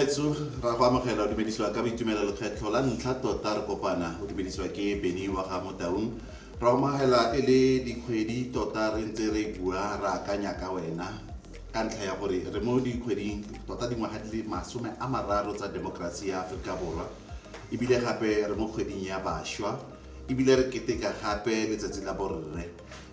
bagaetsho ra go amogela o dumedisiwa ka boitumelo lekgetlho la ntlha tota re kopana o dumedisiwa ke beny wa ga motaung ra omagela e le dikgwedi tota re ntse re bua re akanya ka wena ka ntlha ya gore re mo dikgweding tota dingwaga di le masome a mararo tsa demokrasi ya aforika borwa ebile gape re mo kgweding ya bašwa ebile re keteka gape letsatsi la borre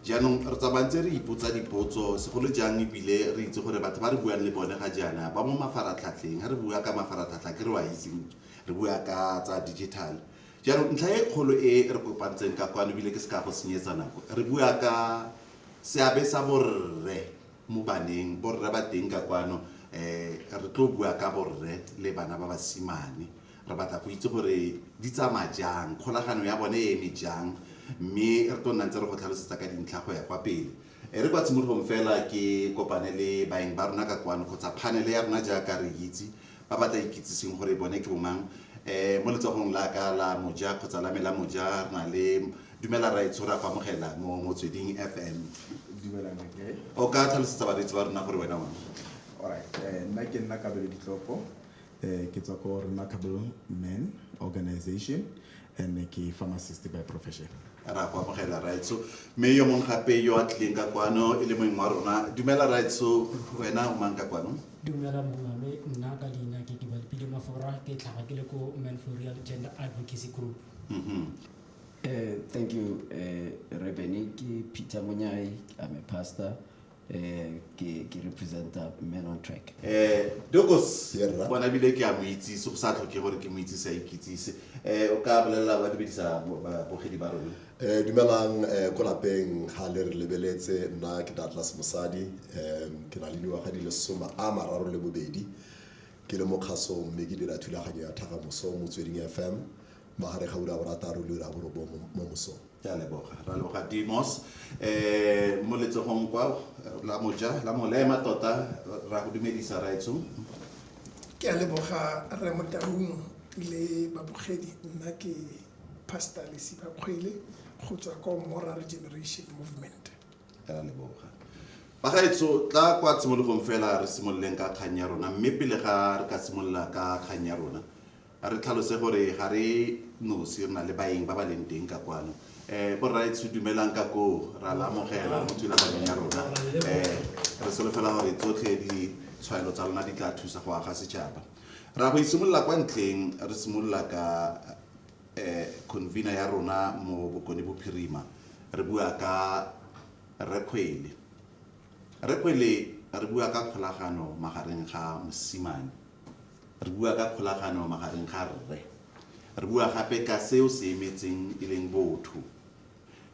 jaanong re tsamaya ntse re ipotsa dipotso segolo jang ebile re itse gore batho ba re buang le bone ga jaana ba mo mafaratlhatlheng ga re bua ka mafaratlhatlha ke re wa itseng re bua ka tsa digital jaanong ntlha e kgolo e re kopantseng ka kwano ebile ke se ka go senyetsa nako re bua ka seabe sa borre mo baneng borre ba teng ka kwano um re tlo bua ka borre le bana ba basimane Re batla go itse gore di tsamaya jang, kgolagano ya bone e eme jang, mme re tlo nna ntse re go tlhalosetsa ka dintlha go ya kwa pele. E re kwa tshimologong fela ke kopane le baeng ba rona ka kwano kgotsa phanele ya rona jaaka re itse, ba ba tla ikitsiseng gore bone ke bomang. Mo letsogong la ka la moja kgotsa la me la moja re na le Dumela Rra Etsho, re a go amogela mo Motsweding FM. Dumela Rra Ke. O ka tlhalosetsa bareetsi ba rona gore wena o mang? Alright, nna ke nna Kabelo Ditlopo. Eh, ke tswa ko remarkable man organization and ke pharmacist by profession ra go amogela right so mme yo mongwe gape yo a tlileng ka kwano e le moeng wa rona dumela right so wena o mang ka kwano dumela mongame nna ka leina ke dibalipile mafora ke tlhaga ke le ko manforial gender advocacy group Mhm. Eh, thank you eh, rebene ke peter monyai i'm a pastor eh ke ke representa man on track eh dokos bona bile ke a mo itsise go sa tlhoke gore ke mo itsise a ikitsise eh o ka bolelela ba dibedisa bogedi ba rona eh dumelang eh ko lapeng ga le re lebeletse nna ke Douglas Mosadi eh ke na le dingwaga di le soma a mararo le bobedi ke le mokgaso mme ke dira thulaganyo ya thagamoso motsweding FM magare ga ura borataro le ura borobong mo mosong ke a leboga ra leboga dimos um mo letsogong kwa la moja la molema tota ra go dumedisa raetsho ke a leboga re motaung le babogedi nna ke pastor lesiba kgwele go tswa ko moral generation movement ke a leboga bagaetso tla kwa tshimologong fela re simololeng ka kgang ya rona mme pele ga re ka simolola ka kgang ya rona A re tlhalose gore ga re nosi, re na le baeng ba ba leng teng ka kwano. Um Borraetsho dumelang ka koo, ra la amogela mo thulaganyong ya rona. Um Re solofela gore tsotlhe ditshwaelo tsa lona di tla thusa go aga setšhaba. Ra go itshimolola kwa ntleng, re simolola ka um convener ya rona mo Bokone Bophirima, re bua ka Rre Kgwele. Rre Kgwele, re bua ka kgolagano magareng ga mosimane. Re bua ka kgolagano magareng ga rre. Re bua gape ka seo se emetseng e leng botho.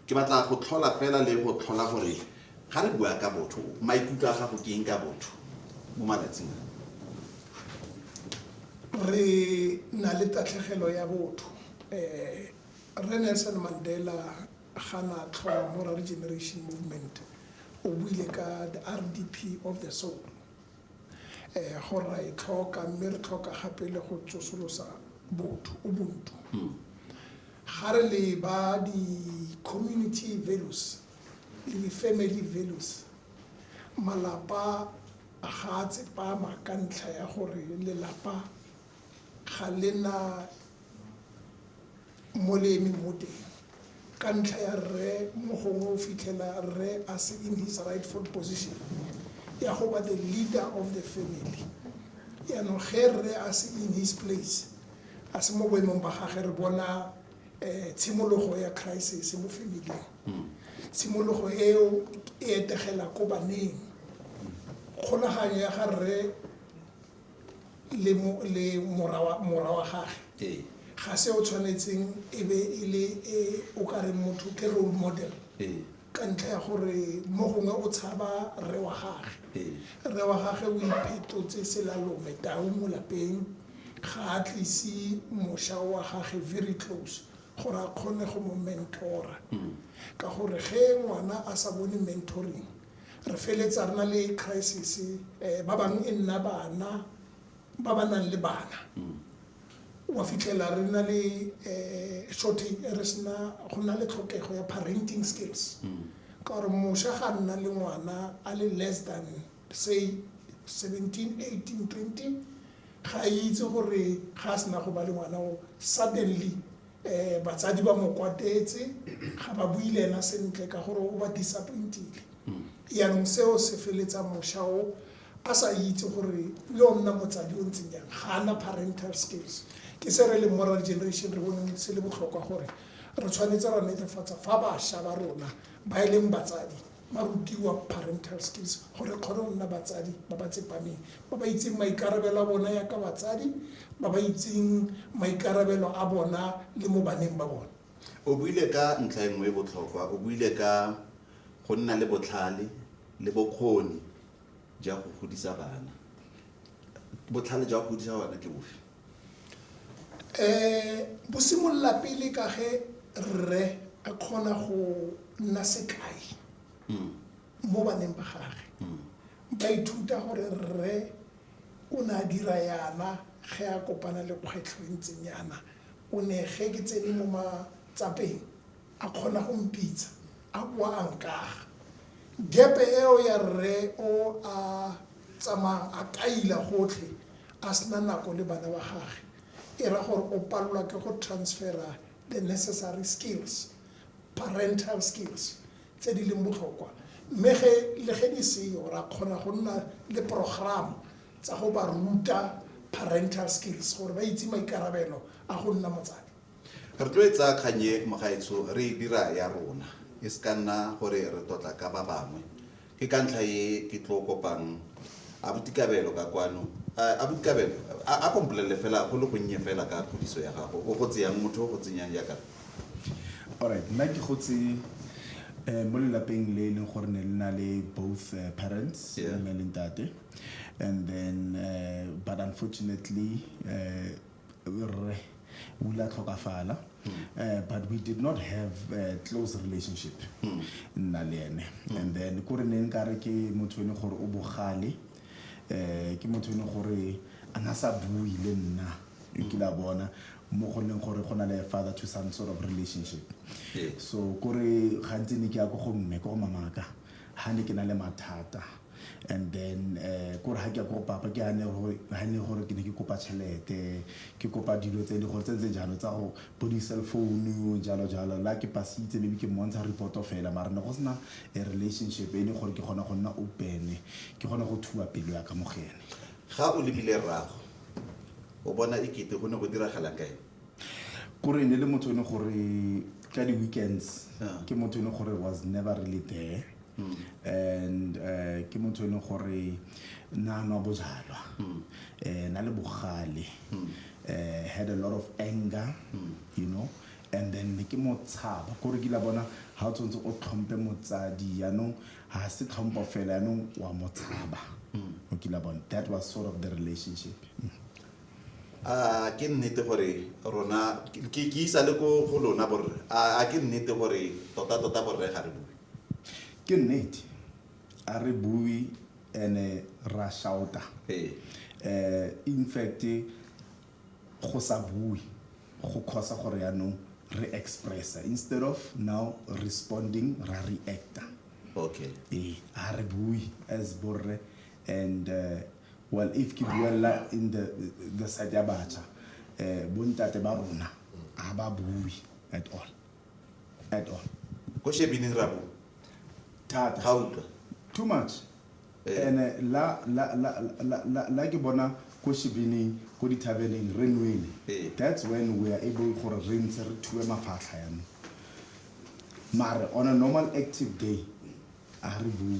Ke batla go tlhola fela le go tlhola gore ga re bua ka botho, maikutlo a gago ke eng ka botho mo malatsing a? Re na le tatlhegelo ya botho. Rre Nelson Mandela ga na tlhoma Moraregeneration Movement, o buile ka the RDP of the soul. Ee, go ra e tlhoka, mme re tlhoka gape le go tsosolosa botho, ubuntu. Ga re leba di-community values le di-family values, malapa ga a tsepama ka ntlha ya gore lelapa ga le na. Molemi mo teng ka ntlha ya rre mo gongwe o fitlhela rre a se in his rightful position ya go ba the leader of the family. Yaanong ge rre a se in his place a se mo boemong ba gage re bona um tshimologo ya crisis mo familing. Tshimologo eo e etegela ko baneng kgolaganyo ya ga rre le mora wa gage ga se o tshwanetseng e be e le e o ka reng motho ke role model ka ntlha ya gore mo gongwe o tshaba rre wa gage rre wa gage o iphetotse selalome tau mo lapeng ga a tlise mošwa wa gage very close gore a kgone go mo mentora ka gore ge ngwana a sa bone mentoring re feletsa re na le crisis um ba bangwe e nna bana ba ba nang le bana mm. wa fitlhela re na le um shortage re sena go na le tlhokego ya parenting skills mm. ka gore mošwa ga nna le ngwana a le less than say 17 18 20 ga itse gore ga a sena go ba le ngwana o suddenly Batsadi ba mo kwatetse, ga ba bue le ena sentle ka gore o ba disappoint-ile. Jaanong seo se feletsa mošwa o a sa itse gore le o nna motsadi o ntseng jang, ga a na parental skills. Ke se re leng mo re generation re boneng se le botlhokwa gore re tshwanetse ra netefatsa fa bašwa ba rona ba e leng batsadi ba rutiwa parental skills gore kgone go nna batsadi ba ba tsepameng ba ba itseng maikarabelo a bona ya ka batsadi ba ba itseng maikarabelo a bona le mo baneng ba bona o buile ka ntlha e nngwe e botlhokwa o buile ka go nna le botlhale le bokgoni ja go godisa bana botlhale jwa go godisa bana ke bofe Bo simolola pele ka ge rre a kgona go nna sekai mo baneng ba gage. Ba ithuta gore rre o ne a dira yana ge a kopana le kgwetlho e ntseng yana, o ne ge ke tsene mo matsapeng. A kgona go mpitsa, a boa a nkaga. Gepe eo ya rre o a tsamayang a kaila gotlhe a sena nako le bana ba gage, e ra gore o palelwa ke go transfera the necessary skills, parental skills, tse di leng botlhokwa. Mme ge le ge di seyo, ra kgona go nna le programo tsa go ba ruta parental skills gore ba itse maikarabelo a go nna motsadi. Re tlo e tsaya kgang e, mogaetsho, re e dira ya rona. E se ka nna gore re tlotla ka ba bangwe. Ke ka ntlha e ke tlo kopang Abuti Kabelo ka kwano. A, Abuti Kabelo, a, a ko mpolelele fela go le gonnye fela ka kgodiso ya gago. O gotse yang? Motho o gotse nyang jaaka re? Alright, nna ke gotse um mo lelapeng le e leng gore ne le na le both uh, parents Yeah. mme le ntate and then uh, but unfortunately uh, Rre o ile a tlhokafala but we did not have a close relationship nna le ene and then ko re ne nka re ke motho ene gore o bogale um ke motho ene gore a na sa bui le nna ke la bona mo go leng gore go na le father to son sort of relationship so kore gantsi ne ke ya ko go mme ko go mamaka ha ne ke na le mathata and then um kore ha ke ya ko go papa ke ha ne gore ke ne ke kopa tšhelete ke kopa dilo tse le gore tse tse jalo tsa go bo di-cell phone jalo jalo la ke pasitse maybe ke mmontsha reporto fela mara ne go sena a relationship e le gore ke kgona go nna opene ke kgone go thuba pelo ya ka mogene ga o lebile rrago o bona e kete go ne go diragalang ka ene kore ne le motho e ne gore ka di-weekends Yeah. ke motho e ne gore was never really there and uh, ke motho e ne gore na nwa bojalwa eh, na le bogale eh, had a lot of anger you know and then ne ke mo tshaba kore kila bona ga o tshwanetse o tlhompe motsadi yaanong ga se tlhompo fela yaanong wa mo tshaba o kila bona that was sort of the relationship A ke nnete gore rona, ke isa le ko go lona borre, a ke nnete gore totatota borre ga re bue? Ke nnete, a re bue ene ra shauta. Um in fact go sa bue go cause gore yaanong re expressa instead of now responding ra reacta. Okay. Ee, a re bue as borre and. Well, if ke buella in the, the side ya bacha, eh, bontate ba rona, ha ba bui at all. At all. Ko shebini ra bua. Thata. Ha utlwa. Too much. Eh. And eh, la, la, la, la, la, la ke bona ko shebining, ko dithabeleng, re nwele. Eh. That's when we are able gore re ntse re thue mafatlha ya me. Mare, on a normal active day, a re bui.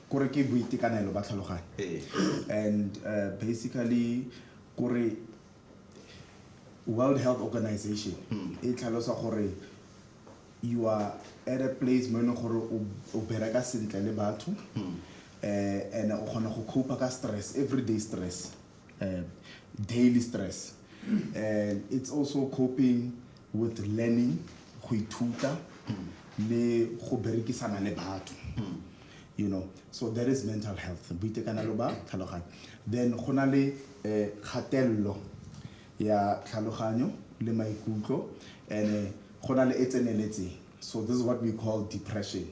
Kore ke boitekanelo ba tlhaloganyo and basically kore World Health Organization e tlhalosa gore you are at a place mo e leng gore o bereka sentle le batho and o kgona go cope-a ka stress, everyday stress. uh, daily stress and it's also coping with learning go ithuta le go berekisana le batho you know so there is mental health boitekanelo ba tlhaloganyo then go na le eh, kgatelelo ya tlhaloganyo le maikutlo and eh, go na le e tseneletseng so this is what we call depression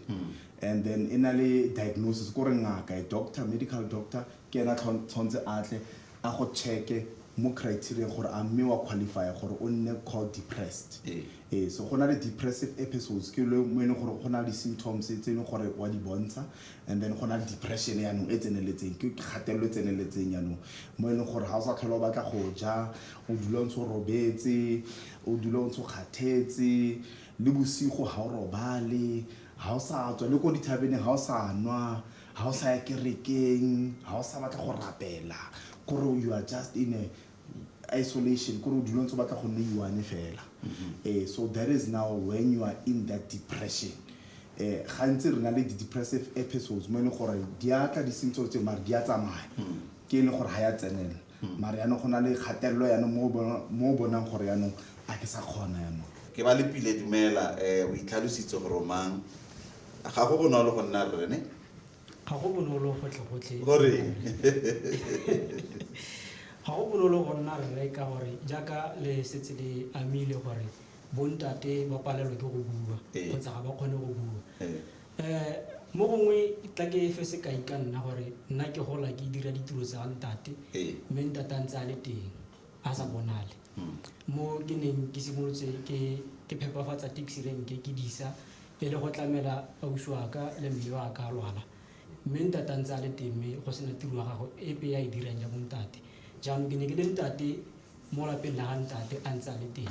and then e na le diagnosis ko re ngaka a doctor medical doctor ke ena tshwanetse a tle a go check-e mo criteria gore a mme wa qualify gore o nne called depressed ee so go na le depressive episodes ke le mo e leng gore go na le di-symptoms tse e leng gore wa di bontsha and then go na le depression yaanong e tseneletseng ke kgatelelo e tseneletseng yaanong mo e leng gore ga o sa tlhola o batla go ja o dula o ntse o robetse o dula o ntse o kgathetse le bosigo ga o robale ga o sa tswa le ko dithabeneng ga o sa nwa Ha o sa ya kerekeng, ha o sa batla go rapela, kore you are just in a isolation, kore o dula ntse o batla go nne one fela. Eh, so that is now when you are in that depression. Eh, gantsi re na le di-depressive episodes mo e leng gore di a tla di sentse tse mare di a tsamaya, ke e leng gore ga ya tsenela. Mara yaanong go na le kgatelelo yaanong mo o bona- mo o bonang gore yaanong a ke sa kgona yaanong. Ke ba Lepile, Dumela. Eh, o itlhalositse gore o mang. Ga go bonolo go nna rre, ne? Ga go bonolo gotlhegotlhe. Goreng? Ga go bonolo go nna rre ka gore jaaka le setse le amile gore bontate ba palelwa ke go bua Ee. kgotsa ga ba kgone go bua. Eh. Um mo gongwe tla ke efe sekai ka nna gore nna ke gola ke dira ditiro tsa ntate Ee. mme ntate a ntse a le teng a sa bonale Mm. mo ke neng ke simolotse ke ke phepafatsa taxi renke ke disa e le go tlamela ausi wa ka le mme wa ka a lwala mme ntate a ntse a le teng mme go sena tiro ya gago epe ya e dirang ya bontate jaanong ke ne ke le ntate mo lapeng la ga ntate a ntse a le teng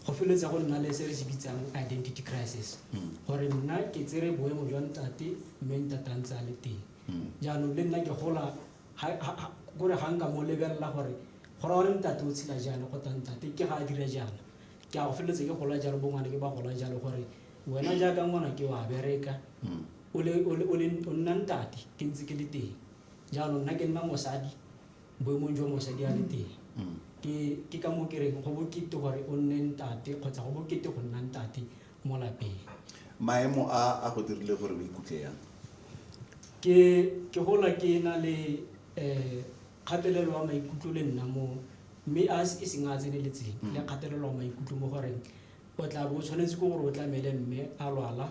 go feleletsa go nna le se re se bitsang identity crisis gore nna ke tsere boemo jwa ntate mme ntate a ntse a le teng jaanong le nna ke gola ha- ha- ha- kore ga nka mo lebelela gore go ra gore ntate o tshela jaana kgotsa ntate ke ga a dira jaana ke a go feleletsa ke gola jalo bongwane ke ba gola jalo gore wena jaaka ngwana ke wa bereka o le- o le- o le- o nna ntate ke ntse ke le teng jaanong nna ke nna mosadi boemong jwa mosadi a le teng. Ke, ke ka moo ke reng go bokete gore o nne ntate kgotsa go bokete go nna ntate mo lapeng. Maemo a a go dirile gore o ikutlwe yang? Ke, ke gola ke na le um kgatelelo ya maikutlo le nna mo, mme a e seng a a tseneletseng, le kgatelelo ya maikutlo mo goreng o tla bo o tshwanetse ke gore o tlamele mme a lwala,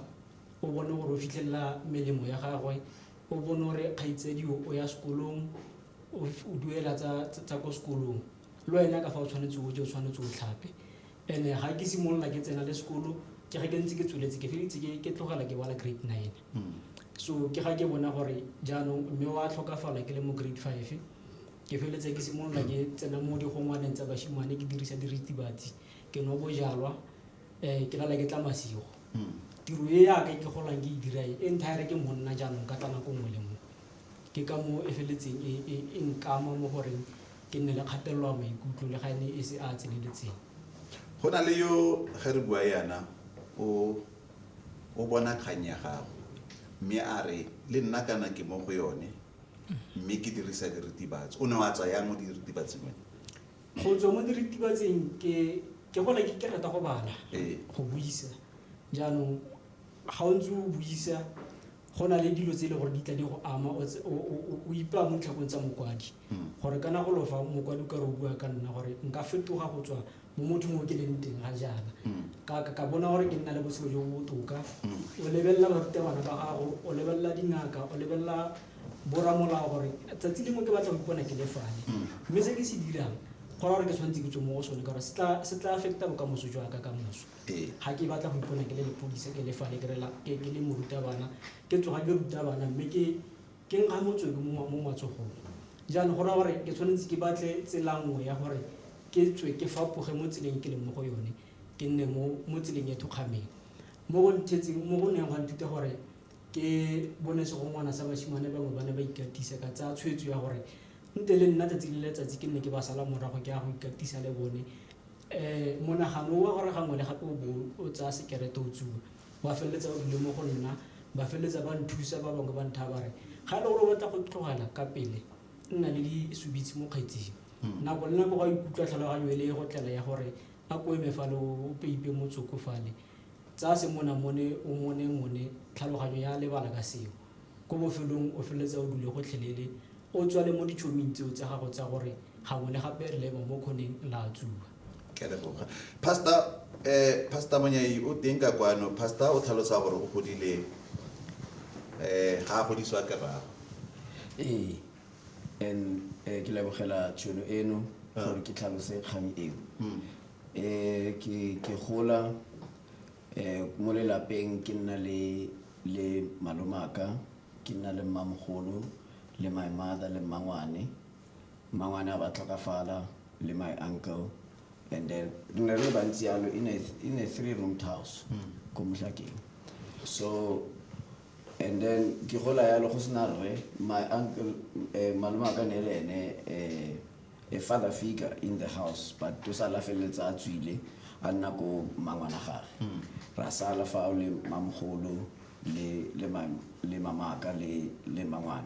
o bone gore o fitlhelela melemo ya gagwe, O bono re kgaitsedio o ya sekolong, o duela tsa ko sekolong. Le wena ka fa o tshwanetse o je, o tshwanetse o tlhape. And-e ga ke simolola ke tsena le sekolo, ke ga ke ntse ke tsweletse, ke feleletse ke tlogela ke bala grade nine. So ke ga ke bona gore jaanong mme wa tlhokafala ke le mo grade five, ke feleletse ke simolola ke tsena mo digongwaneng tsa bashimane, ke dirisa diritibatsi, ke nwa bojalwa. um ke nana ke tla masigo tiro e yaka ke golang ke e dira e entire ke monna jaanong ka tla nako nngwe le nngwe ke ka moo e feletseng e, e, e nkama mo goreng ke nne le kgatelelo ya maikutlo le ga e ne e se a tseneletseng go na le yo ge re bua yana o o bona kgang ya gago mme a re le nna kana ke mo go yone mme ke dirisa diritibatsi o ne wa tsayang mo diritibatsing wena go tswa mo diritibatseng ke ke gola ke ke rata go bala ee. go buisa jaanong ga o ntse o buisa go na le dilo tse e le gore di tla di go ama o ipaa mo ditlhakong tsa mokwadi hmm. gore kana go lofa mokwadi o ka re o bua ka nna gore nka fetoga go tswa mo motho mo ke leng teng ga jaana hmm. ka bona gore ke nna le botshelo jo bo botoka hmm. o lebelela barutabana ba gago o lebelela dingaka o lebelela boramolao gore tsatsi lengwe ke batla go ipona ke le fale mme se ke se dirang go ra gore ke tshwanetse ke tswe mo go sone ka gore se tla- se tla affecta bokamoso jwa ka ka moso Ee. ga ke batla go ipona ke le lepodisa ke le fale ke re la- ke ke le morutabana ke tsoga ke ruta bana mme ke ke nkga motswedi mo mo matsogong jaanong go raya gore ke tshwanetse ke batle tsela nngwe ya gore ke tswe ke fapoge mo tseleng ke leng mo go yone ke nne mo mo tseleng e thokgameng mo go nthetseng mo go neng gwa nthuta gore Ke bone segongwana sa basimane bangwe ba ne ba ikatisa, ka tsaya tshwetso ya gore nte le nna tsatsi le letsatsi ke nne ke ba sala morago ke ya go ikatisa le bone. Um monagano wa gore gangwe le gape o bo o tsaya sekerete o tsuba wa feleletsa o dule mo go nna, ba feleletsa ba nthusa ba bangwe ba nthaya ba re ga e le gore o batla go tlogela ka pele nna le disubitse mo kgetsing. Hmm. Nako le nako ga ikutlwa tlhaloganyo e le e go tlela ya gore a ko eme fale o peipe motsoko fale Tsaya semonamone o monemone tlhaloganyo ya lebala ka seo. Ko bofelong o feleletsa o dule gotlhelele o tswale mo ditšhoming tseo tsa gago tsa gore gangwe le gape re lema mo kgoneng la tsuba. Ke a leboga. Pastor, eh, Pastor Monyai o teng ka kwano. Pastor o tlhalosa gore o godile eh ga a godiswa ke rrago. Ee, and eh, ke lebogela tšhono eno gore ke tlhalose kgang eo. Eh, ke, ke gola eh, mo lelapeng ke nna le, le malomaka ke nna le mmamogolo le my mother le mmangwane mmangwane a ba tlhokafala le my uncle and then re ne re le bantsi yalo in a, in a three roomed house hmm. ko motlhakeng so and then ke gola yalo go sena rre my uncle eh, malomaka ne le ene eh, a father figure in the house but o sala feleletsa a tswile a nna ko mangwana gage hmm. ra sala fa o le mamogolo le le le mamaka le le mangwana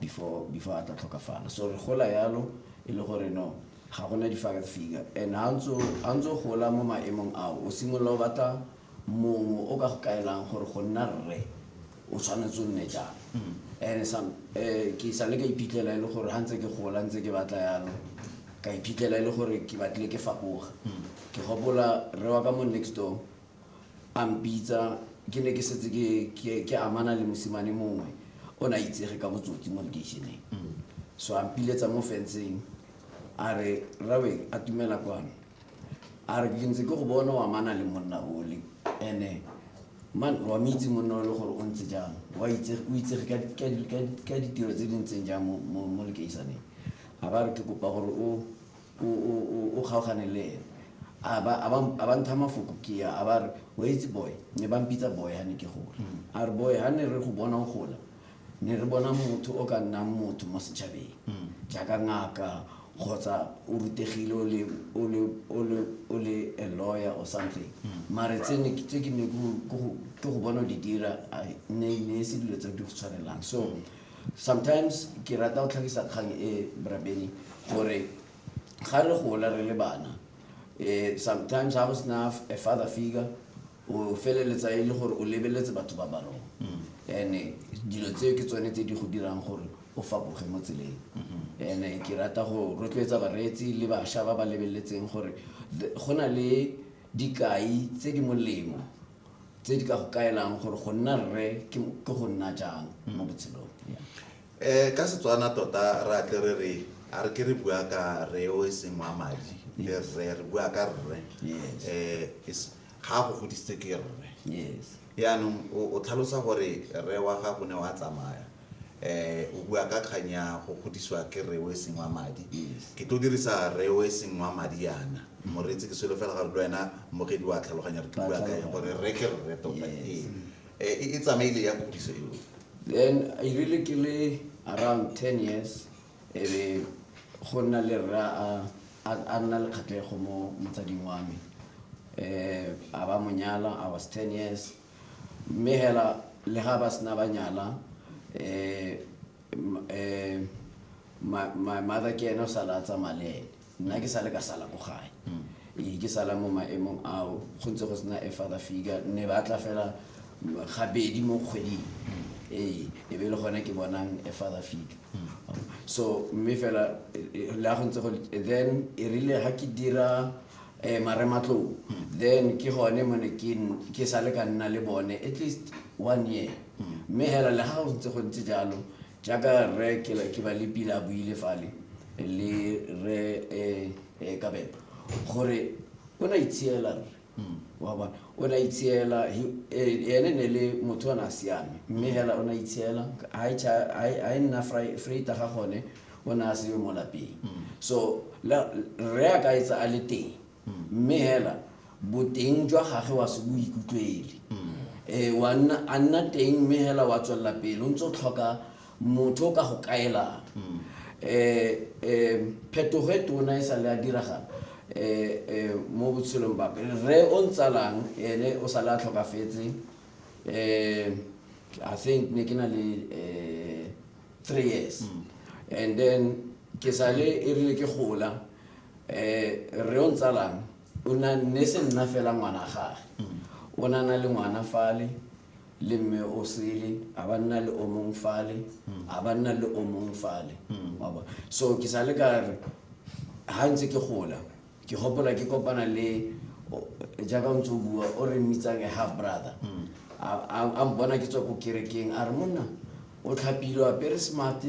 before before a tla tlhokafala so re gola yalo e le gore no ga gona di-father figure and ha ntse gola mo maemong ao o simolola o batla mongwe o ka go kaelang gore go nna rre o tshwanetse o nne jang and some eh, ke sa le ka iphitlhela e le gore ga ntse ke gola ntse ke batla yalo ka iphitlhela e le gore ke batlile ke fapoga ke gopola re wa ka mo next door a mpitsa ke ne ke setse ke- ke ke amana le mosimane mongwe o ne a itsege ka botsotsi mo lekeišeneng so a mpiletsa mo fenceng a re rawe a tumela kwano a re ke ntse ke go bona wa mana le monna ole ene man wa mo itse monna ole gore o ntse jang wa itse o itsege ka di- ka di- ka di- ka ditiro tse di ntseng jang mo- mo mo lekeisaneng a ba re ke kopa gore o o- o- o- o kgaogane le ene a ba a ba- a ba ntha mafoko ke ya a ba re o itse boy ne ba mpitsa boy ha ne ke gola a re boy ha ne re go bona o gola ne re bona motho o ka nnang motho mo setšhabeng mm. jaaka ngaka kgotsa o rutegile o le a lawyer or something mm. mare tse ke ne ke go bona di dira ne e se dilo tse di go tshwanelang so mm. sometimes ke rata go tlhagisa kgang e brabeni gore ga re gola re le bana um sometimes ga go sena a father figure o feleletsa e le gore o lebeletse batho ba ba rona ene dilo tseo ke tsone tse di go dirang gore o fapoge mo tseleng ene ke rata go rotloetsa bareetsi le bašwa ba ba lebeletseng gore the- go na le dikai tse di molemo tse di ka go kaelang gore go nna rre ke ke go nna jang mo botshelong Yeah. um ka setswana tota re atle re re a re ke re bua ka re o e seng wa madi le rre re bua ka rre Yes. um ga a go godisitse ke rre yes yaanong o o tlhalosa gore rre wa gago ne wa tsamaya um o bua ka kgang ya go godisiwa ke rre o e seng wa madi yes ke tlo dirisa rre o e seng wa madi yana moreetsi ke selo fela gore le wena mogedi wa tlhaloganya re ke bua ka eng gore rre ke rre tota Yes. ee Eh, e e tsamaile ya kgodiso eo then i really ke le around ten years e re go nna le rra a nna le kgatlhego mo motsading wa me um a ba monyala i was ten years mme hela le ga ba sena ba nyala um my mother ke ene o sala a tsamaya le ene nna ke sa le ka sala ko gae ee ke sala mo maemong ao go ntse go sena a father figure ne ba tla fela gabedi mo kgweding ee e be e le gone ke bonang a father figure so mme fela le a go ntse go then e rile ga ke dira um marematlou then ke gone mo ne ke sale ka nna le bone at least one year mme fela le ga go ntse go ntse jalo Jaaka Rre Kebalipina a buile fale le Rre um Kabelo, gore o ne a itshiela rre. Wa bona? O ne a itshiela, ene ne le motho o ne a siame. Mme hela o ne a itshiela, ha e cha, ha e, ha e nna Freita ga gone, o ne a seyo mo lapeng. So, le, rre a ka etsa a le teng. mme hela boteng jwa gage wa se bo ikutlwele um wa nna a nna teng mme hela wa tswelela pele o ntse o tlhoka motho o ka go kaelang um um phetogo e tona e sa le a diragala um mo botshelong bape rre o ntsalang ene o sa le a tlhokafetse um i think ne ke na le um three years mm. and then ke sale e rile ke gola um re o ntsalang o na ne se nna fela ngwana gage mm. o na na le ngwana fale le mme o sele a ba nna le o mong fale mm. a ba nna le o mong fale so ke sale ka re ga ntse ke gola ke gopola ke kopana le jaaka o ntse o bua o re mmitsang a half brother mm. a mpona ke tswa ko kerekeng a re monna o tlhapile o apere smart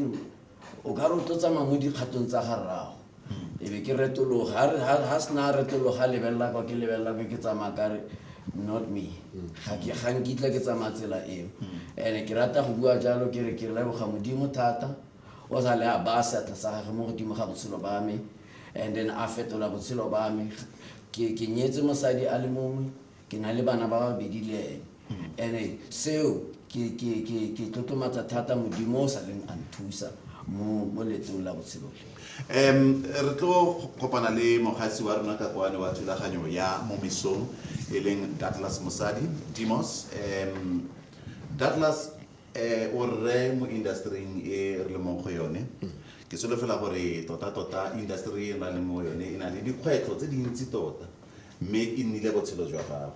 o ka re o tlo tsamaya mo dikgatong tsa ga rrago mm. e be ke retologa ga sena retologa lebelela kwa ke lebelela ko ke tsamaya kare not me mm. ga nkitla ke tsamaya tsela eo and-e ke rata go bua jalo ke re ke leboga modimo thata o sa le a baya seatla sa gage mo godimo ga botshelo ba me and then a fetola botshelo ba me ke ke nyetse mosadi a le mongwe ke na le bana ba babedi le ene ene seo ke ke ke ke tlotlomatsa thata modimo o sa leng a nthusa mo mo letong la botshelo le um re tlo kopana le mogatsi wa rona ka kwane wa thulaganyo ya mo mesong e leng douglas mosadi demos um douglas um o rre mo industering e re le mong go yone ke solofela gore tota-tota industry e na le mo yone e na le dikgwetlho tse dintsi tota mme e nnile botshelo jwa gago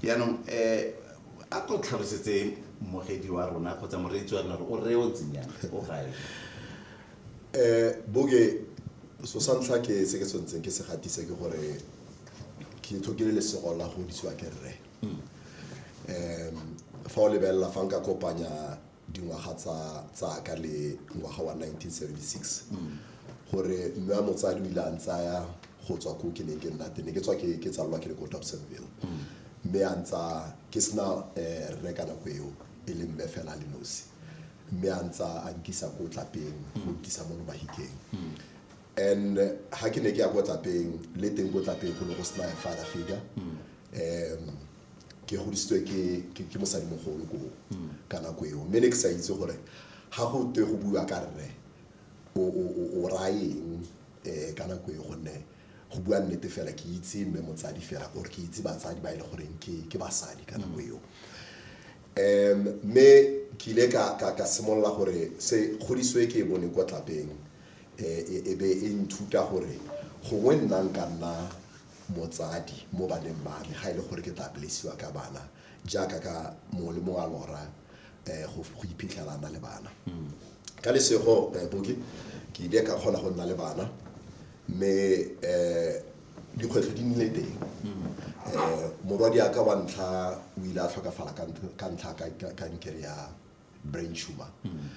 yaanong um a ko tlhalosetse mogedi wa rona kgotsa moreetsi wa rona gore o rre o ntsenyana o gae um boke so sa ntlha ke se ke tshwanetseng ke se gatise ke gore ke tlhokile lesego la go disiwa ke rre Mm. Um, fa o lebelela fa nka kopanya dingwaga tsa tsaka le ngwaga wa 1976 mm. gore mme wa motsadi o ile a ntsaya go tswa ko ke neng ke nna tene ke tswa ke tsalelwa ke le ko dobsonville mm. mme a ntsa ke sena um eh, rre ka nako eo e le mme fela le nosi mme a ntsa a nkisa ko tlapeng go nkisa mo lobahikeng and ha ke ne ke ya ko tlapeng le teng ko tlapeng go ne go sena father figure um ke godisitswe ke mosadimogolo ko ka nako eo mme ne ke sa itse gore ga go twe go bua ka rre o rayeng um eh, ka nako eo gonne go bua nnete fela ke itse mme motsadi fela gore ke itse batsadi ba e le goreng ke basadi ka nako eo um mme ke ile ka simolola gore se godiswe ke bone kwa tlapeng e be e nthuta gore gongwe nna nka nna motsadi mo baneng ba me ga e le gore ke tla blessiwa ka bana jaaka ka mongwe le mongwe a lora um go iphitlhela a na le bana hmm. ka lesego eh, boke ke ile ka kgona go nna le bana mme um dikgwetlho di nnile teng um morwadi aka wa ntlha o ile a tlhokafala ka ntlha kankere ya brain tumor hmm.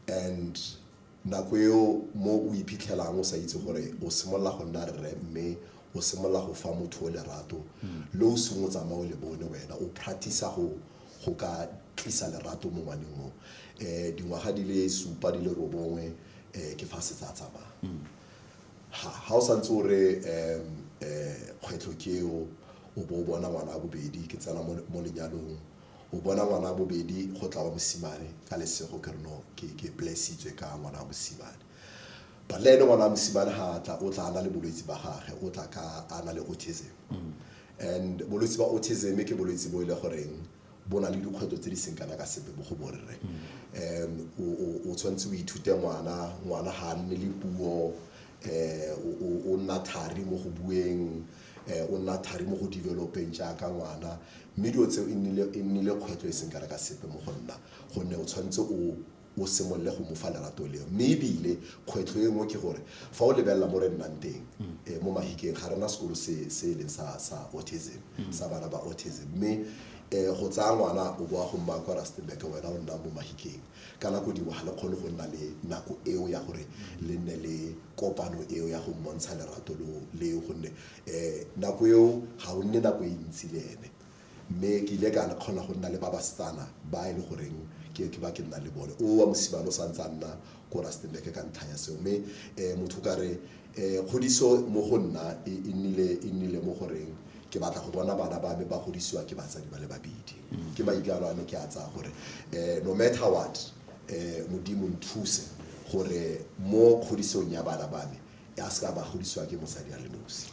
and Nako eo mo o iphitlhelang o sa itse gore o simolola go nna rre mme o simolola go fa motho o lerato le o seng o tsamaya o le bone wena o practice-a go go ka tlisa lerato mo ngwaneng o. Dingwaga di le supa di le robongwe ke fa setse a tsamaya. Ga o sa ntse o re kgwetlho ke eo o bo o bona ngwana wa bobedi ke tsena mo lenyalong, O bona ngwana wa bobedi go tla wa mosimane ka lesego ke re no ke ke blessitswe ka ngwana wa mosimane. But le ene ngwana wa mosimane ha tla o tla ana le bolwetsi ba gagwe o tla ka ana le autism. And bolwetsi ba autism ke bolwetsi bo ile e goreng bo na le dikgwetlho tse di seng kana ka sepe mo go borre. Um o o tshwanetse o ithute ngwana ngwana ha nne le puo eh o nna thari mo go bueng o nna thari mo go developeng jaaka ngwana, mme dilo tseo e nnile e nnile kgwetlho e seng kana ka sepe mo go nna gonne o tshwanetse o o simolole go mo fa lerato leo. Mme e bile kgwetlho e nngwe ke gore fa o lebelela mo re nnang teng mo Mahikeng ga re na sekolo se se e leng sa sa autism, sa bana ba autism, mme go tsaya ngwana o bo o a go mmaya kwa Rustenburg wena o nna mo Mahikeng. Ka nako dingwe ga le kgone go nna le nako eo ya gore le nne le kopano eo ya go mmontsha lerato leo gonne nako eo ga o nne nako e ntsi le ene. Mme ke ile ka kgona go nna le ba basetsana ba e le goreng ke ke ba ke nna le bone. O wa mosimane o sa ntse a nna ko Rustenburg ka ntlha ya seo. Mme motho o ka re um kgodiso mo go nna e, e nnile e nnile mo goreng ke batla go bona bana ba me ba godisiwa ke batsadi ba le babedi mm. ke maikano a me ke a tsaya gore um no matter what um modimo nthuse gore mo kgodisong ya bana ba me a se ka ba godisiwa ke mosadi a le nosi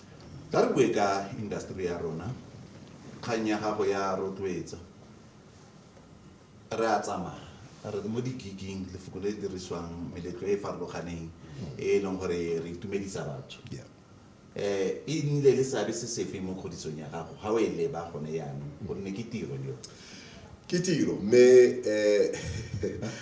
ka re bue ka industry ya rona kgang ya gago ya rotloetsa re a tsamaya re mo di-gigeng lefoko le le dirisiwang meletlo e e farologaneng e e leng gore re itumedisa batho Yeah. eh e nnile le seabe se sefe mo kgodisong ya gago ga o e leba gone yaanong gonne ke tiro yo ke tiro mme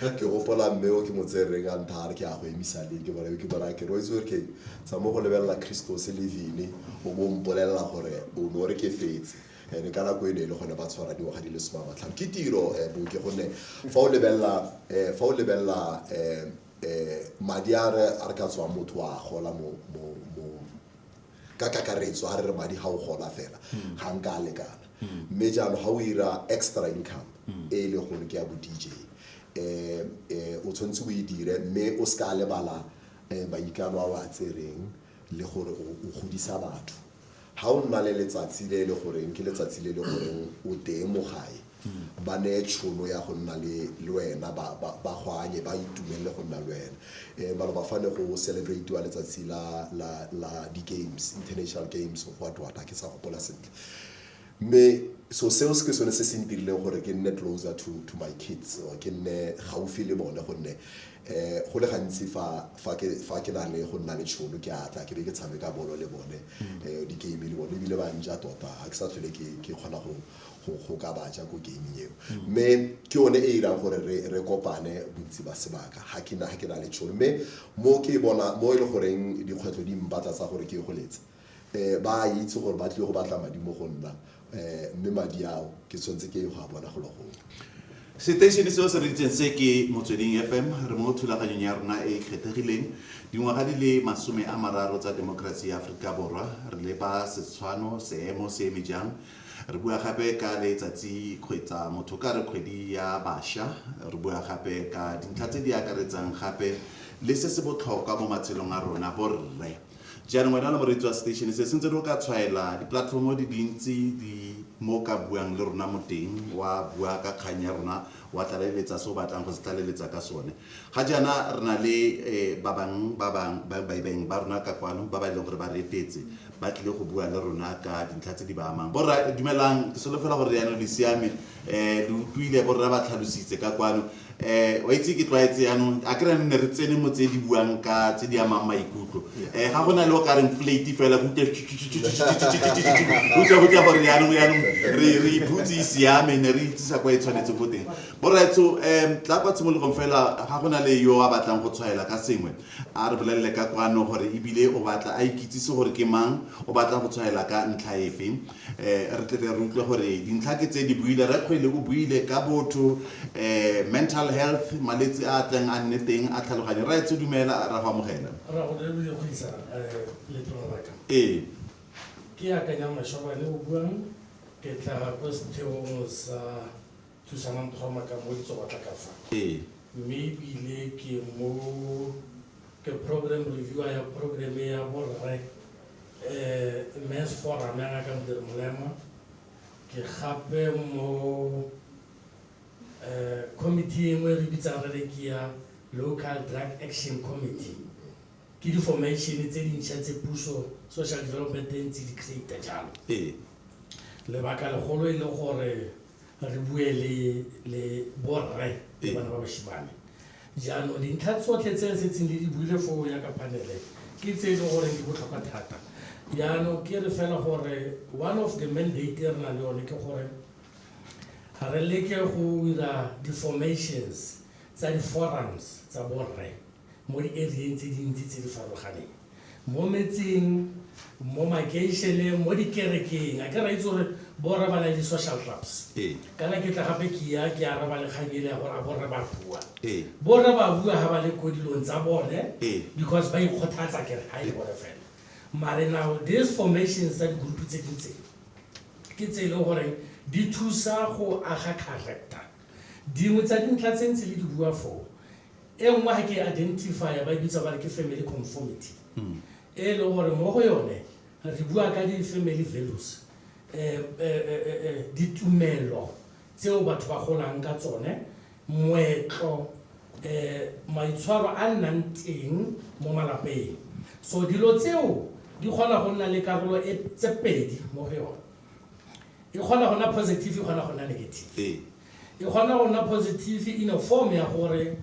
um ke gopola mme o ke mo tsereng a ntha a re ke a go emisa leng ke bona ke bona ke roitse gore ke tsa mo go lebelela christos levine o bo mpolelela gore o ne o re ke fetse and ka nako e ne e le gone ba tshwara dingwaga di le soma matlhano ke tiro um boke gonne fa o lebelela um fa o lebelela um um madi a re a re ka tswang motho wa gola mo ka kakaretso a re re madi ga o gola fela hmm. ga nka a lekana hmm. mme jalo ga o ira extra income hmm. e e leng gore ke ya bo dj um eh, eh, o tshwanetse o e dire mme o se ka lebala um eh, maikano a o a tsereng le gore o godisa batho Ga o nna le letsatsi le e le goreng ke letsatsi le e le goreng o teng mo gae, ba neye tšhono ya go nna le le wena, ba ba ba go anye, ba itumelele go nna le wena. Um maloba fa ne go celebrate-iwa letsatsi la la la di-games, International Games of what what, ga ke sa gopola sentle. Mme so seo se ke sone se se ntirileng gore ke nne closer to to my kids or ke nne gaufi le bone gonne eh go le gantsi fa fa ke fa ke na le go nna le tšhono ke atla ke be ke tshameka bolo le bone mm. eh di game le bone ebile ba nja tota ga ke sa tlhole ke ke kgona go go ka baja ko game eo mm. mme ke one e irang gore re re kopane bontsi ba sebaka ga ke na ga ke na le tšhono mme mo ke bona mo e le goreng dikgwetlho di mbatla tsa gore ke go letse um ba a itse gore ba tlile go batla madi mo go nna um mme madi ao ke tshwanetse ke go a bona golo gongwe seteišene seo se re itseng se ke motsweding fm re mo thulaganyong ya rona e e kgethegileng dingwaga di le masome a mararo tsa temokerasi ya aforika borwa re leba setshwano seemo se eme jang re bua gape ka letsatsi kgwetsa motho ka re kgwedi ya bašwa re bua gape ka dintlha tse di akaretsang gape le se se botlhokwa mo matshelong a rona borre Jaanong wena le moreetsi wa station se, sentse re o ka tshwaela di-platform di dintsi di mo o ka buang le rona mo teng, wa bua ka kgang ya rona, wa tlaleletsa se o batlang go se tlaleletsa ka sone. Ga jaana re na le ba bang ba baeng ba rona ka kwano ba ba e leng gore ba re etetse, ba tlile go bua le rona ka dintlha tse di ba amang. Borra dumelang, ke solofela gore leano le siame. eh lo utlwile bo rra ba tlhalositse ka kwano eh wa itse ke tlwaetse yaanong a kry nne re tsene mo tse di buang ka tse di amang maikutlo eh ga go na le o ka reng flate fela go utlwa go tla gore yaanong yaanong re re iphutse e siame ne re itsisa kwa e tshwanetse go teng boretso um tla kwa tshimologong fela ga go na le yo a batlang go tshwaela ka sengwe a re bolelele ka kwano gore ebile o batla a ikitsise gore ke mang o batla go tshwaela ka ntlha efe re tle re utlwe gore dintlha ke tse di buile rekgwele o buile ka botho um mental health malwetse a tleng a nne teng a tlhaloganye ra etse dumela ra go amogela ee ke akanya mashobane o buang ke tla kwa setheong sa Thusanang Tshwama ka mo ke tswa batla ka fa. Ee. Mme ebile ke mo ke program reviewer ya program ya borre um mens forum ya ngaka modiri molema ke gape mo um committee engwe re bitsang re re ke ya local drug action committee ke di-formation tse dintšha tse puso social development e ntse di creata jalo lebaka legolo e le gore re bue le borre le bana ba bashimane jaanong dintlha tsotlhe tse re setseng le di buile foo ya ka panele ke tse e leng gore di botlhokwa thata jaanong ke re fela gore one of the mandate e re na le yone ke gore re leke go dira di-formations tsa di-forums tsa borre mo di-area-eng tse dintsi tse di farologaneng, mo metseng, mo makeišeneng, mo dikerekeng. A ke ra itse gore borra ba na le di-social clubs. Ee. Kana ke tla gape ke ya ke araba le kgang ele ya gore a borra ba bua. Ee. Borra ba bua ga ba le ko dilong tsa bone Ee. because ba ikgothatsa kere ga e bone fela. Mare now these formations tsa di-group tse di ntseng ke tse e leng gore di thusa go aga character. Dingwe tsa dintlha tse ntse le di bua foo E nngwe ga ke e identify-a ba e bitsa ba re ke family conformity e leng gore mo go yone re bua ka di-family values um ditumelo tseo batho ba golang ka tsone moetlo um maitshwaro a nnang teng mo malapeng so dilo tseo di kgona go nna le karolo e tse pedi mo go yone e kgona go nna positive e kgona go nna negative E kgona go nna positive in a form ya gore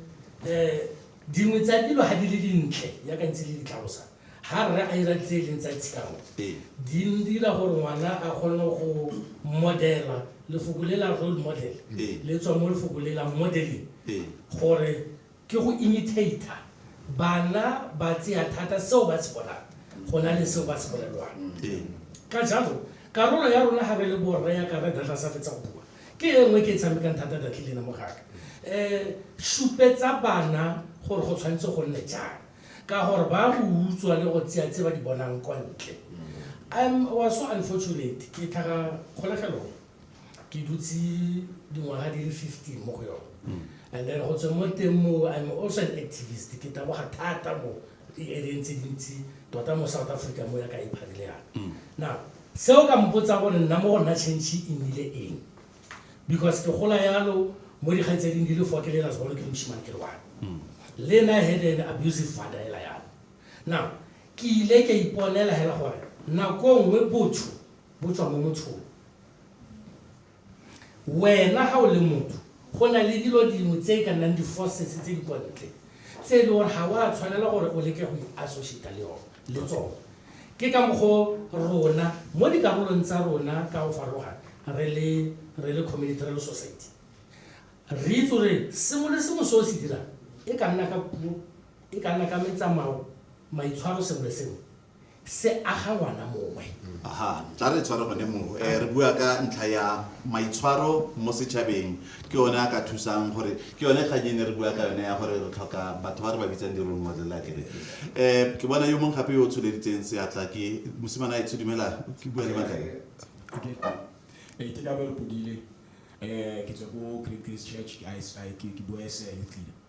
um dingwe tsa dilo ga di le dintle ya ka ntse le di tlhalosa ga rre a ira tse e leng tsa tshiamo di dira gore ngwana a kgone go modela lefoko le la role model le tswa mo lefoko le la modeling gore Ke go imitater bana ba tseya thata seo ba se bonang go na le seo ba se bolelwang. Ka jalo, karolo ya rona ga re le borre ya ka Rre Dladla a sa fetsa go bua, ke e nngwe e ke e tshamekang thata Datley le ena mogaka. Supetsa bana gore go tshwanetse go nne jang ka gore ba go utswa le go tseya tse ba di bonang kwa ntle. I was so unfortunate, ke tlhaga kgolegelong. ke dutse dingwaga di le 15 mo go yone hmm. and then go tswe mo teng mo i'm also an activist ke taboga thata mo di-areng tse dintsi tota mo south africa mo ya ka ipharile yana hmm. now seo ka mpotsa gore nna mo go nna change e nnile eng because ke gola yalo mo dikgang tse ding di le four ke lela segolo ke moshimane ke le one hmm. le na had an abusive father ela yalo now ke ile ka iponela hela gore nako nngwe botho bo tswa mo mothong. Wena ga o le motho, go na le dilo dingwe tse e ka nnang di-forces tse di kwa ntle tse e le gore ga o a tshwanela gore o leke go i-associata le yone le tsone. Ke ka mokgwa o rona mo dikarolong tsa rona ka go farologana re le re le community, re le society, re itse gore sengwe le sengwe se o se dirang e ka nna ka puo, e ka nna ka metsamao, maitshwaro, sengwe le sengwe se aga ngwana mongwe aha tla re tshware gone moo um re bua ka ntlha ya maitshwaro mo setšhabeng ke yone a ka thusang gore ke yone kgang e ne re bua ka yone ya gore re tlhoka batho ba re ba bitsang di-role model la kere um ke bona yo mongwe gape yo o tsholeditseng seatla ke mosimana etsho dumela ke bua le matlae Okay. Eh, ke Dabelo Podile. Eh, ke tswa ko Great Grace Church. Ke- I- I- ke- ke bua SI youth leader.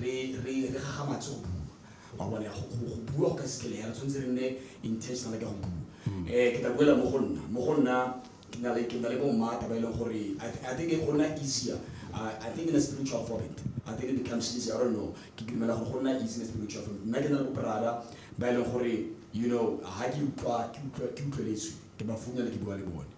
re re re gagamatse go bua wa bona go go- go bua go ka sekele ya re tshwanetse re nne intentional ka go bua um ke tla boela mo go nna mo go nna ke na le ke na le bommata ba e leng gore I th- i think e go nna easier I- i think in a spiritual format i think it becomes easier i don't know ke dumela gore go nna easy in a spiritual format nna ke na le bobrada ba e leng gore you know ga ke utlwa ke utlwa ke utlweletswe ke ba founela ke bua le bone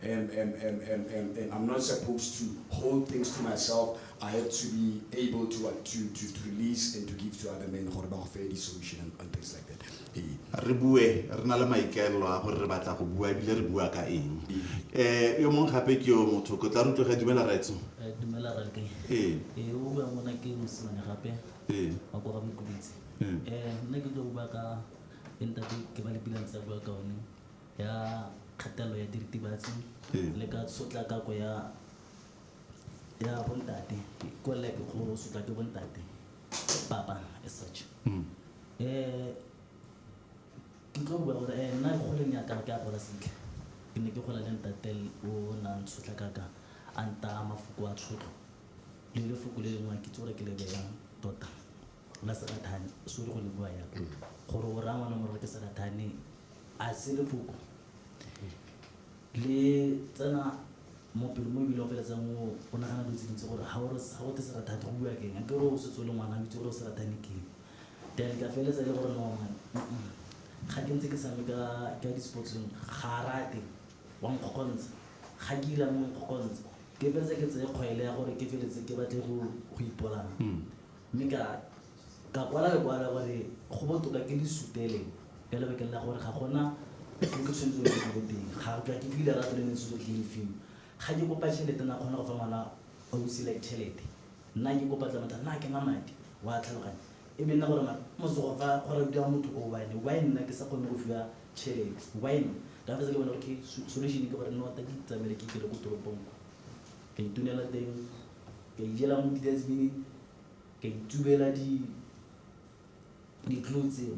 I'm not supposed to hold things to myself. I have to be able to what to to to release and to give to other men gore ba go fe di solution and, and things like that. Ee. Re bue re na le maikaelelo a gore re batla go bua ebile re bua ka eng. Eh yo mong gape ke yo motho ko tla rutloga dumela raitso. Eh dumela ra ke. Ee. Eh o bua mona ke mosimane gape. Ee. Wa go ga mokubitse. Eh nna ke tlo bua ka ntate ke ba le bilang tsa bua ka one. ya kgatelelo ya diritibatsi le ka tshotlakako ya ya bontate ko like go sotla ke bontate papa as such mm. eh ke tlo bua gore eh nna go leng ya ka ke a gola sentle ke ne ke gola le ntate o nang tshotla kaka a nta mafoko a tshotlo le le foko le lengwe ke tsore ke le beyang tota la serathane so le go le bua ya mm. gore o raya ngwana gore ke serathane a se lefoko le tsena mo pelo mo ebile o feletsang o nagana dilo tse dintsi gore ga go te serathate go bua keng ke gore o setse o le ngwana itse gore o serathane keng then ka feletsa e le gore none ga ke ntse ke sameka ka di-sportsong ga rate wa nkgokontsha ga ke ila mo nkgokontsha ke feletse ke tseye kgwaele ya gore ke feletse ke batle go ipolana mme ka Ka kwala lekwalo ka gore go botoka ke le sutele ka lebakeng la gore ga gona se ke tshwanetse go se boteng. Ga ke ke file lerato le ne se tsotlhe le fiwa. Ga ke kopa tšhelete na kgona go fa ngwana ausi like tšhelete. Nna ke kopa tla motho nna ke na madi wa tlhaloganya e be nna gore mara mosogo fa go radiwa motho o one why nna ke sa kgone go fiwa tšhelete why nna ka fetsa ke bona okay solution ke gore nna wa tadi tsamele ke tlile ko toropong ka itunela teng ka ijela mo di dustbin Ka itubela ditlou tseo,